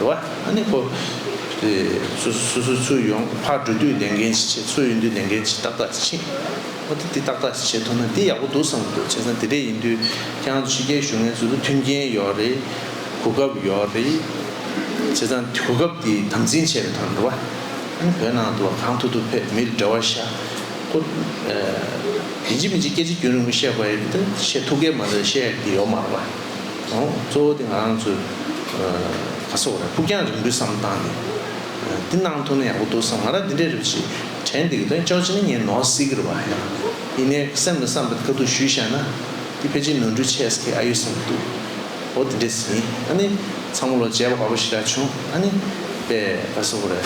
རེད་བ། ཨ་ནི་ཁོ། དེ། སུ་སུ་སུ་ཚུར་ཡོང་ཕར་འགྲོ་དུས་ལས་འགན་ཅི་བྱེད་ཚུར་ཡོང་དུས་ལས་འགན་ཅི་ཏག་ཏག་ཅིག་བྱེད། ཨོ་དེ་དེ་ཏག་ཏག་ཅིག་བྱེད་ཐུབ་ན་འདི་ཡག་པོ་འདུག་བསམ་གྱི་འདུག་བྱས་ཙང་དེ་འདྲས་ཡིན་དུས་ཀྱང་ཕྱི་རྒྱལ་གཞུང་ངལ་རྩོལ་དུ་མཐུན་རྐྱེན་ཡོད་རེད། གོ་སྐབས་ཡོད་རེད། བྱས་ཙང་གོ་སྐབས་དེ་དམ་འཛིན་བྱས་རེད་དམ་རེད་བ། ཨ་ནི་བོད་ནང་དུ་གང་ཐུབ་ཐུབ་ཕེབས་མིར་འབྲེལ་བ་བྱ། ཁོ། མི་འཇིགས་མི་འཇིགས་སྐད་ཆ་རྒྱུན་རིང་པོ་བཤད་དགོས་ཡོད་མི་འདུག་བཤད་ཐུབ་མཁན་མ་རེད་བཤད་ཡོད་མ་རེད་བ། གཙོ་བོ་དེ་ང་རང་ཚོའི་ག་ས་བོ་རེད་ཕུགས་རྒྱང་རིང་པོའི་བསམ་སྟངས་ནི་འདི་གནང་ཐུབ་ན་ཡག་པོ་འདུག་བསམ་ང་རང་འདི་འདྲའི་རེ་བ་ཞིག་དྲན་འདུག་དོན་ཅོག་ཅེ་ནི་ངའི་ནོར་སྲིད་ཀྱི་རེ་བ་ཡིན། ཡིན་ནའི་སེམས་ལ་བསམ་པ་དེ་ག་ཐུག་ཞུས་བཤད་ན་འདི་ཕལ་ཆེར་ནོར་འཁྲུལ་ཆེ་ས་ཁེ་ཨ་ཡོད་བསམ་གྱི་འདུག་འོ་དེ་འདྲས་ཡིན་ཨ་ནི་ཚང་མ་ལོ་བརྒྱད་པ་ག་པོ་ཞིག་རག་བྱུང་ཨ་ནི་པའི་ག་ས་བོ་རེད་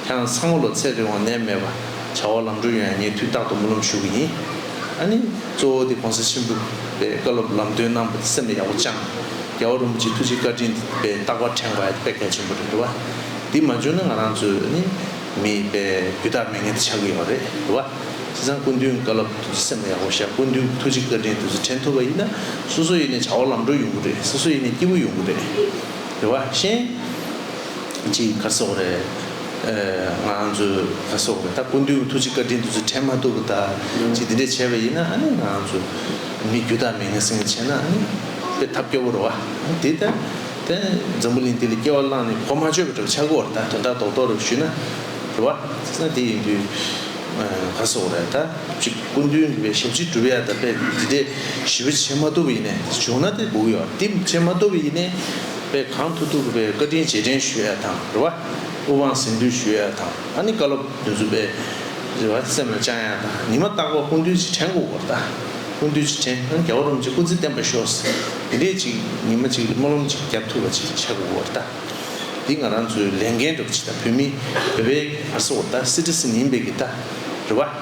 ཁྱེད་རང་ཚང་མ་ལོ་ཚད་རེ་འོང་ནད་མེད་པ་བྱ་བ་ལམ་འགྲོ་ཡོང་ཡ་ངས་དུས་རྟག་ཏུ་སྨོན་ལམ་ཞུ་གི་ཡིན། ཨ་ནི། གཙོ་བོ་དེ་གོང་ས་ཆེན་པོས་བཀའ་སློབ་ལམ་སྟོན་གནང་བ་སེམས་ལ་ཡག་པོ་བཅངས། རྒྱལ་བ་རིན་པོ་ཆེའི་ཐུགས་རྗེའི་བཀའ་དྲིན་དེ་རྟག་པར་ཕྲེང་བ་དཔེ་གལ་ཆེན་པོ་རེད་བ། འདི་མ་འབྱོར་ན་ང་རང་ཚོས་ནི་མི་རྒྱུ་དག་མི་ངན་དེ་ཆགས་ཀྱི་ཡོད་རེད་བ། དེ་སང་སྐུ་མདུན་བཀའ་སློབ་བདུད་རྩི་སེམས་ལ་ཡག་པོ་བཞག་སྐུ་མདུན་གྱི་ཐུགས་རྗེ་བཀའ་དྲིན་བདུད་རྩི་དྲན་ཐུབ་པ་ཡིན་ན་སོ་སོ་ཡི་ནས་བྱ་བ་ལམ་འགྲོ་ཡོང་གི་རེད་སོ་སོ་ཡི་ནས་སྐྱིད་པོ་ཡོང་གི་རེད་རེད་བ། གཞན། ཅི་ཁ་སོག་རེད། ང་ཚོ་ཁ་སོག་རེད་ད་ཀུན་དུས་ཐུགས་རྗེ་བཀའ་དྲིན་འདི་ཚོ་དྲན་མ་ཐུབ་ད་ཅི་འདི་འདྲས་བྱས་པ་ཡིན་ན་ཨ་ནི་ང་ཚོ་མི་རྒྱུ་དག་མི་ངན་སེང་གེ་བྱས་ན་ཨ་ནི་དཔེ་ཐབས་སྐྱོ་བོ་རེད་བ། དེ་ལྟ་དེ་འཛམ་བུ་གླིང་འདི་ལ་སྐྱེ་བ་བླངས་ནས་གོ་མ་ཆོད་པ་འདྲ་བ་ཆག་གོ་རེ་ད་དོན་དག་རྡོག་རྡོག་རེ་ཞུས་ན་རེ་བ། ད་དེ་ཡིན་དུས་ཁ་སོག་རེད་ད་ཅི་ཀུན་དུས་འདི་བས་ཞབས་ཕྱི་སྒྲུབ་ཡ་ད་དཔེ་འདི་འདྲས་ཞི་བ་བྱེད་མ་ཐུབ་པ་ཡིན་ནས་བྱུང་ན་དེ་སྒུག་ཡོད་དེ་བྱེད་མ་ཐུབ་པ་ཡིན་ནས་པས་གང་ཐུགས་ཐུགས་པའི་བཀའ་དྲིན་རྗེས་དྲན་ཞུ་ཡ་དང་རེ་བ། དབུ་དབང་གཟེངས་བསྟོད་ཞུ་ཡ་དང་ད་ནི་བཀའ་སློབ་བདུན་བསུ་པའི་རེ་བ། སེམས་ལ་བཅངས་ཡ་དང་ཉི་མ་རྟག་པ་ཀུན་འདུལ་གྱི་བྲན་སྐུ་བོར་ད་ཀུན་འདུལ་གྱི་བྲན་ཨ་རྒྱ་བ་རུམ་གྱི་སྐུ་ཚེ་བརྟན་པ་ཤོག། འདི་འདྲའི་ཅིག་ཉི་མ་ཅིག་སྨོན་ལམ་ཅིག་བརྒྱབ་ཐུབ་པ་ཅིག་བྱ་དགོས་བོར་ད། འདི་ང་རང་ཚོའི་ལས་འགན་འགྲུབ་ཅིག་ད་བོད་མི་བོད་པའི་བར་སོ་བོར་ད་སྲིད་ཁྲི་སྲིད་མིན་པའི་གི་ད་རེ་བ།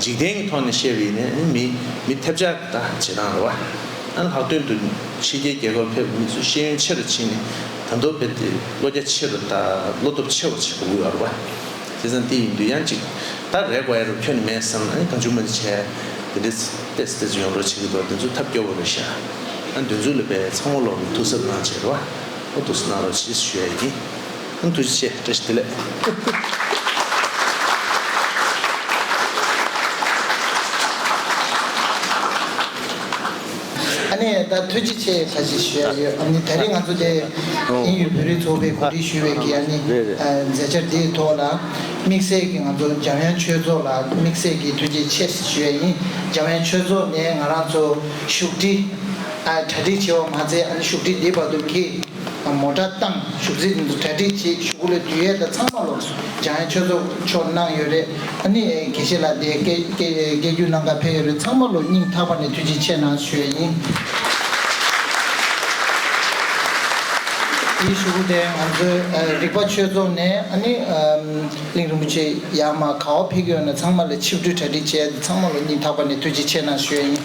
འཇིག་རྟེན་གྱི་ཐོག་ནས་བཤད་པའི་ནི་མི་ཐེབས་ཆག་གི་དང་བྱེད་སྟངས་རེད་བ། ལྷག་དོན་དུ་ཕྱི་རྒྱལ་རྒྱལ་ཁབ་ཕེབས་མི་ཚོས་ཤེས་ཡོན་ཆེ་རུ་ཕྱིན་ནས་དར་མདོར་ཕེབས་ཏེ་བློ་རྒྱ་ཆེ་རུ་དང་བློ་སྟོབས་ཆེ་བར་བྱེད་དགོས་ཀྱི་རེད་བ། དེ་ཙམ་དེ་ཡིན་དུས་ཡང་ཅིག་ད་རེག་བ་ཡ་རབས་ཁྱོད་ནི་མེད་བསམ་ནས་གང་བྱུང་མ་འདི་བྱས་དེ་འདི་བལྟས་སེ་བལྟས་སོ་ཡོང་རོགས་བྱེད་ཀྱི་འདུག་དེ་ཚོ་ཐབས་སྐྱོ་བོ་རེད་ཤག་ཨ་འདོན་ཚུལ་ལ་དཔེ་ཚང་མ་ལོག་ནས་ཐུགས་གཟབ་གནང་བྱས་རེད་བ། ཨོ་ཐུགས་གཟབ་གནང་རོགས་བྱེད་ཞུ་ཡ་ཡིན། ཐུགས་རྗེ་ཆེ་བཀྲ་ཤིས་བདེ་ལེགས། ཨ་ནེ་ད་ཐུགས་རྗེ་ཆེ་བཀྲ་ཤིས་ཞུ་ཡག་ཡོད་ཨ་ནེ་ད་རེས་ང་ཚོ་དེ་ཨིན་ཡུལ་བོད་རིགས་ཚོགས་པས་གོ་སྒྲིག་ཞུས་བའི་གི་ཨ་ནེ་མཛད་འཆར་དེའི་ཐོག་ལ་དམིགས་བསལ་གི་ང་ཚོ་འཇམ་དབྱངས་ཆོས་ཚོགས་ལ་དམིགས་བསལ་གི་ཐུགས་རྗེ་ཆེ་ཞུ་ཡག་ཡིན་འཇམ་དབྱངས་ཆོས་ཚོགས་ནས་ང་རང་ཚོ་བཞུགས་ཁྲི། གྲ་སྒྲིག་བྱས་བ་མ་ཚད་ཨ་ནེ་བཞུགས་ཁྲི་འདི་བར་དུ་གི། མོ་གྲྭ་བཏང་བཞུགས་རྫས་རྣམས་སུ་གྲ་སྒྲིག་བྱས་བཞུགས་སྐུ་ལས་དུས་ཡས་དང་ཚང་བ་ལོགས་སུ་འཇམ་དབྱངས་ཆོས་རྫོགས་མཆོག་གནང་ཡོད་རེད་ཨ་ནི་དགེ་བཤེས་ལགས་དེ་སྐད་སྐད་རྒྱུ་གནང་ག་འཕེལ་ཡོད་རེད་ཚང་མ་ལོ་སྙིང་ཐག་པ་ནས་ཐུགས་རྗེ་ཆེ་གནང་ཞུ་ཡས་ཡིན། དེའི་བཞུགས་སྐུ་དེ་ང་ཚོའི་རིག་པ་ཆོས་རྫོགས་ནས་ཨ་ནི། གླིང་རིན་པོ་ཆེ་ཡག་མ་ག་བ་ཕེབས་ཀྱི་ཡོད་ན་ཚང་མ་ལ་ཆིབས་སྒྲིལ་གྲ་སྒྲིག་བྱས་ཏེ་ཚང་མ་ལོ་གཉིས་ཐག་པ་ནས་ཐུགས་རྗེ་ཆེ་གནང་ཞུ་ཡ་ཡིན།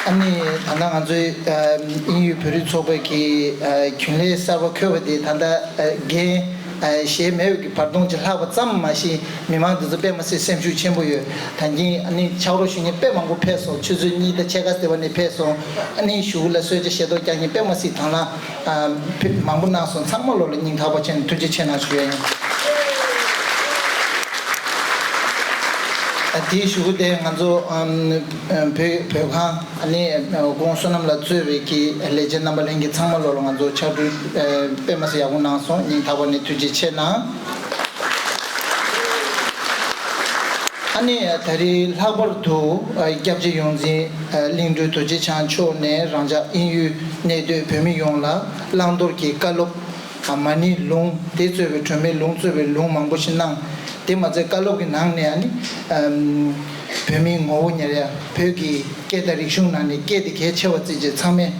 ཨ་ནི་ད་ལྟ་ང་ཚོའི་དབྱིན་ཡུལ་བོད་རིགས་ཚོགས་པའི་གི་རྒྱུན་ལས་གསར་པ་འཁོད་པ་དེ་ད་ལྟ་རྒན་གཞས་མེད་པའི་གི་བར་སྟོང་ཅིག་ལྷག་པ་ཙམ་མ་གཞི་མི་དམངས་འདི་ཚོ་པད་མ་སེར་སེམས་ཤུགས་ཆེན་པོ་ཡོད་ད་གིན་ཨ་ནི་ཕྱག་རོགས་ཞུ་གིན་དཔེ་མང་པོ་ཕེབས་སོང་ཆུ་ཚོད་གཉིས་ད་ཕྱེད་ཀ་ཟེར་བ་ནས་ཕེབས་སོང་ཨ་ནི་ཞུ་ལ་གསོལ་ཇ་བཞེས་ཏོག་རྒྱག་གིན་པད་མ་སེར་དང་ལ། བུད་མང་པོ་གནང་སོང་ཚང་མ་བློ་ལ་སྙིང་ཐག་པ་ཆེ་ནས་ཐུགས་རྗེ་ཆེ་གནང་ཞུ་ཡ་ཡིན། དེའི་ཞུ་སྒོ་དེ་ང་ཚོ་བོད་བོད་ཁང་ནས་ཁོང་བསོད་ནམས་ལ་གཙོས་བའི་ཀྱི་ལས་བྱེད་རྣམ་པ་ལྷན་རྒྱས་ཚང་མ་བློ་ལ་ང་ཚོ་ཕྱག་གྲུ་དཔེ་མ་སེ་ཡག་པོ་གནང་སོང་སྙིང་ཐག་པ་ནས་ཐུགས་རྗེ་ཆེ་གནང། ཨ་ནི་ད་རེས་ལྷག་པར་དུ་སྐྱབས་རྗེ་ཡོངས་འཛིན་གླིང་སྒྲུང་རྡོ་རྗེ་འཆང་མཆོག་ནས་རང་ཅག་ཨིན་ཡུལ། གནས་སྡོད་བོད་མི་ཡོངས་ལ་བླང་དོར་གྱི་བཀའ་སློབ། མ་ཎི་ལུང་དེ་གཙོས་པའི་གྲོས་མོལ་ལུང་གཙོས་པའི་ལུང་མང་པོ་ཞིག་གནང། དེ་མ་ཚད་བཀའ་སློབ་ཀྱི་ནང་ནས་ནི། བོད་མིའི་ངོ་བོ་ཉེར་ཡ་བོད་ཀྱི་སྐད་དང་རིག་གཞུང་ནང་ནས་སྐད་དེ་གལ་ཆེ་བར་བརྩི་བྱེད་ཚང་མས་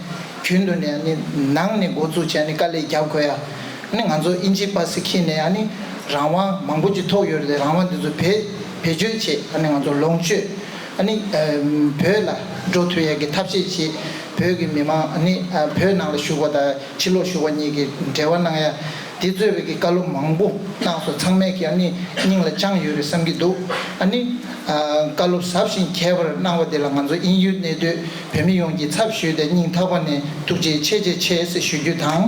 གྱོད་དུ་ནས་ནི་ནང་ནས་འགོ་འཛུགས་བྱས་ནས་དཀའ་ལས་རྒྱབ་དགོས་ཡ། ནི་ང་ཚོ་ཨིན་ཇི་པ་སི་ཁི་ནས་ནི་རང་དབང་མང་པོ་ཅིག་ཐོག་ཡོད་རེད་རང་དབང་དེ་ཚོ་བེད་སྤྱོད་བྱེད་ནི་ང་ཚོ་ལོངས་སྤྱོད། ཨ་ནི། བོད་ལ་འགྲོ་ཐུ་ཡས་ཀྱི་ཐབས་ཤེས་ཞེས་བོད་ཀྱི་མི་མང་ཨ་ནི་བོད་ནང་ལ་བཞུགས་པ་དང་ཕྱི་ལོགས་བཞུགས་པ་གཉིས་ཀྱི་འབྲེལ་བ་གནང་ཡ་དེ་གཙོས་བོད་ཀྱི་བཀའ་སློབ་མང་པོ་གནང་སོ་ཚང་མས་ཀྱི་ཨ་ནི་སྙིང་ལ་བཅངས་ཡོད་རེད་བསམ་གྱི་འདུག་ཨ་ནི། བཀའ་སློབ་ཟབ་ཞིང་ཁྱད་པར་གནང་བ་དེ་ལ་ང་ཚོ་ཨིན་ཡུལ་གནས་སྡོད་བོད་མི་ཡོངས་ཀྱི་ཚབ་ཞུས་ཏེ་སྙིང་ཐག་པ་ནས་ཐུགས་རྗེ་ཆེ་ཆེ་ཆེ་ཞེས་ཞུ་རྒྱུ་དང།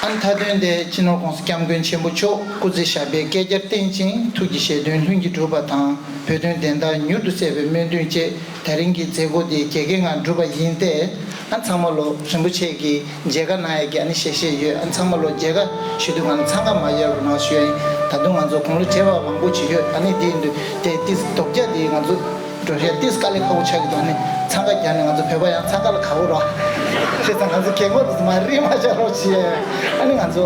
ཨ་མཐའ་དོན་ཏེ་སྤྱི་ནོར་ཀོང་ས་སྐྱབས་མགོན་ཆེན་པོ་མཆོག་སྐུ་ཚེ་ཞབས་པད་བསྐལ་བརྒྱར་བརྟན་ཅིང་ཐུགས་ཀྱི་བཞེད་དོན་ལྷུན་གྱིས་འགྲུབ་པ་དང་བོད་དོན་བདེན་མཐའ་མྱུར་དུ་གསལ་བའི་སྨོན་འདུན་བཅས། དེ་རིང་གི་མཛད་སྒོ་འདི་རྒྱལ་ཁའི་ངང་བསྒྲུབས་པ་ཡིན་ཏེ། ཨ་མཚང་མ་ལོ་རིན་པོ་ཆེ་གིས་མཇལ་ཁ་གནང་ཡ་གི་ཨ་ནི་ཞེ་བཞེས་ཡོད་ཨ་མཚང་མ་ལོ་མཇལ་ཁ་ཞུས་དུས་ང་རང་འཚང་ཁ་མ་ཡལ་བར་ངང་ཞུས་ཡ་ཡིན་ད་དུང་ང་ཚོ་དགུང་ལོ་བྱེ་བ་མང་པོ་བྱས་ཡོད་ཨ་ནི་དེ་ཡིན་དུས་དེ་ཏིས་རྡོག་རྒྱ་དེ་ང་ཚོ་འགྲོ་ཞེས་ཏིས་དཀའ་ལས་ཁག་པོ་ཆགས་ཀྱི་འདུག་ཨ་ནི་འཚང་ཁ་རྒྱག་ནས་ང་ཚོ་བོད་པ་ཡང་འཚང་ཁ་ལ་ག་བོ་རོགས། ཁྱེད་ཚང་ང་ཚོ་གད་མོ་རུ་མ་རེད་མ་བྱ་རོགས་ཞེས་ཨ་ནི་ང་ཚོ།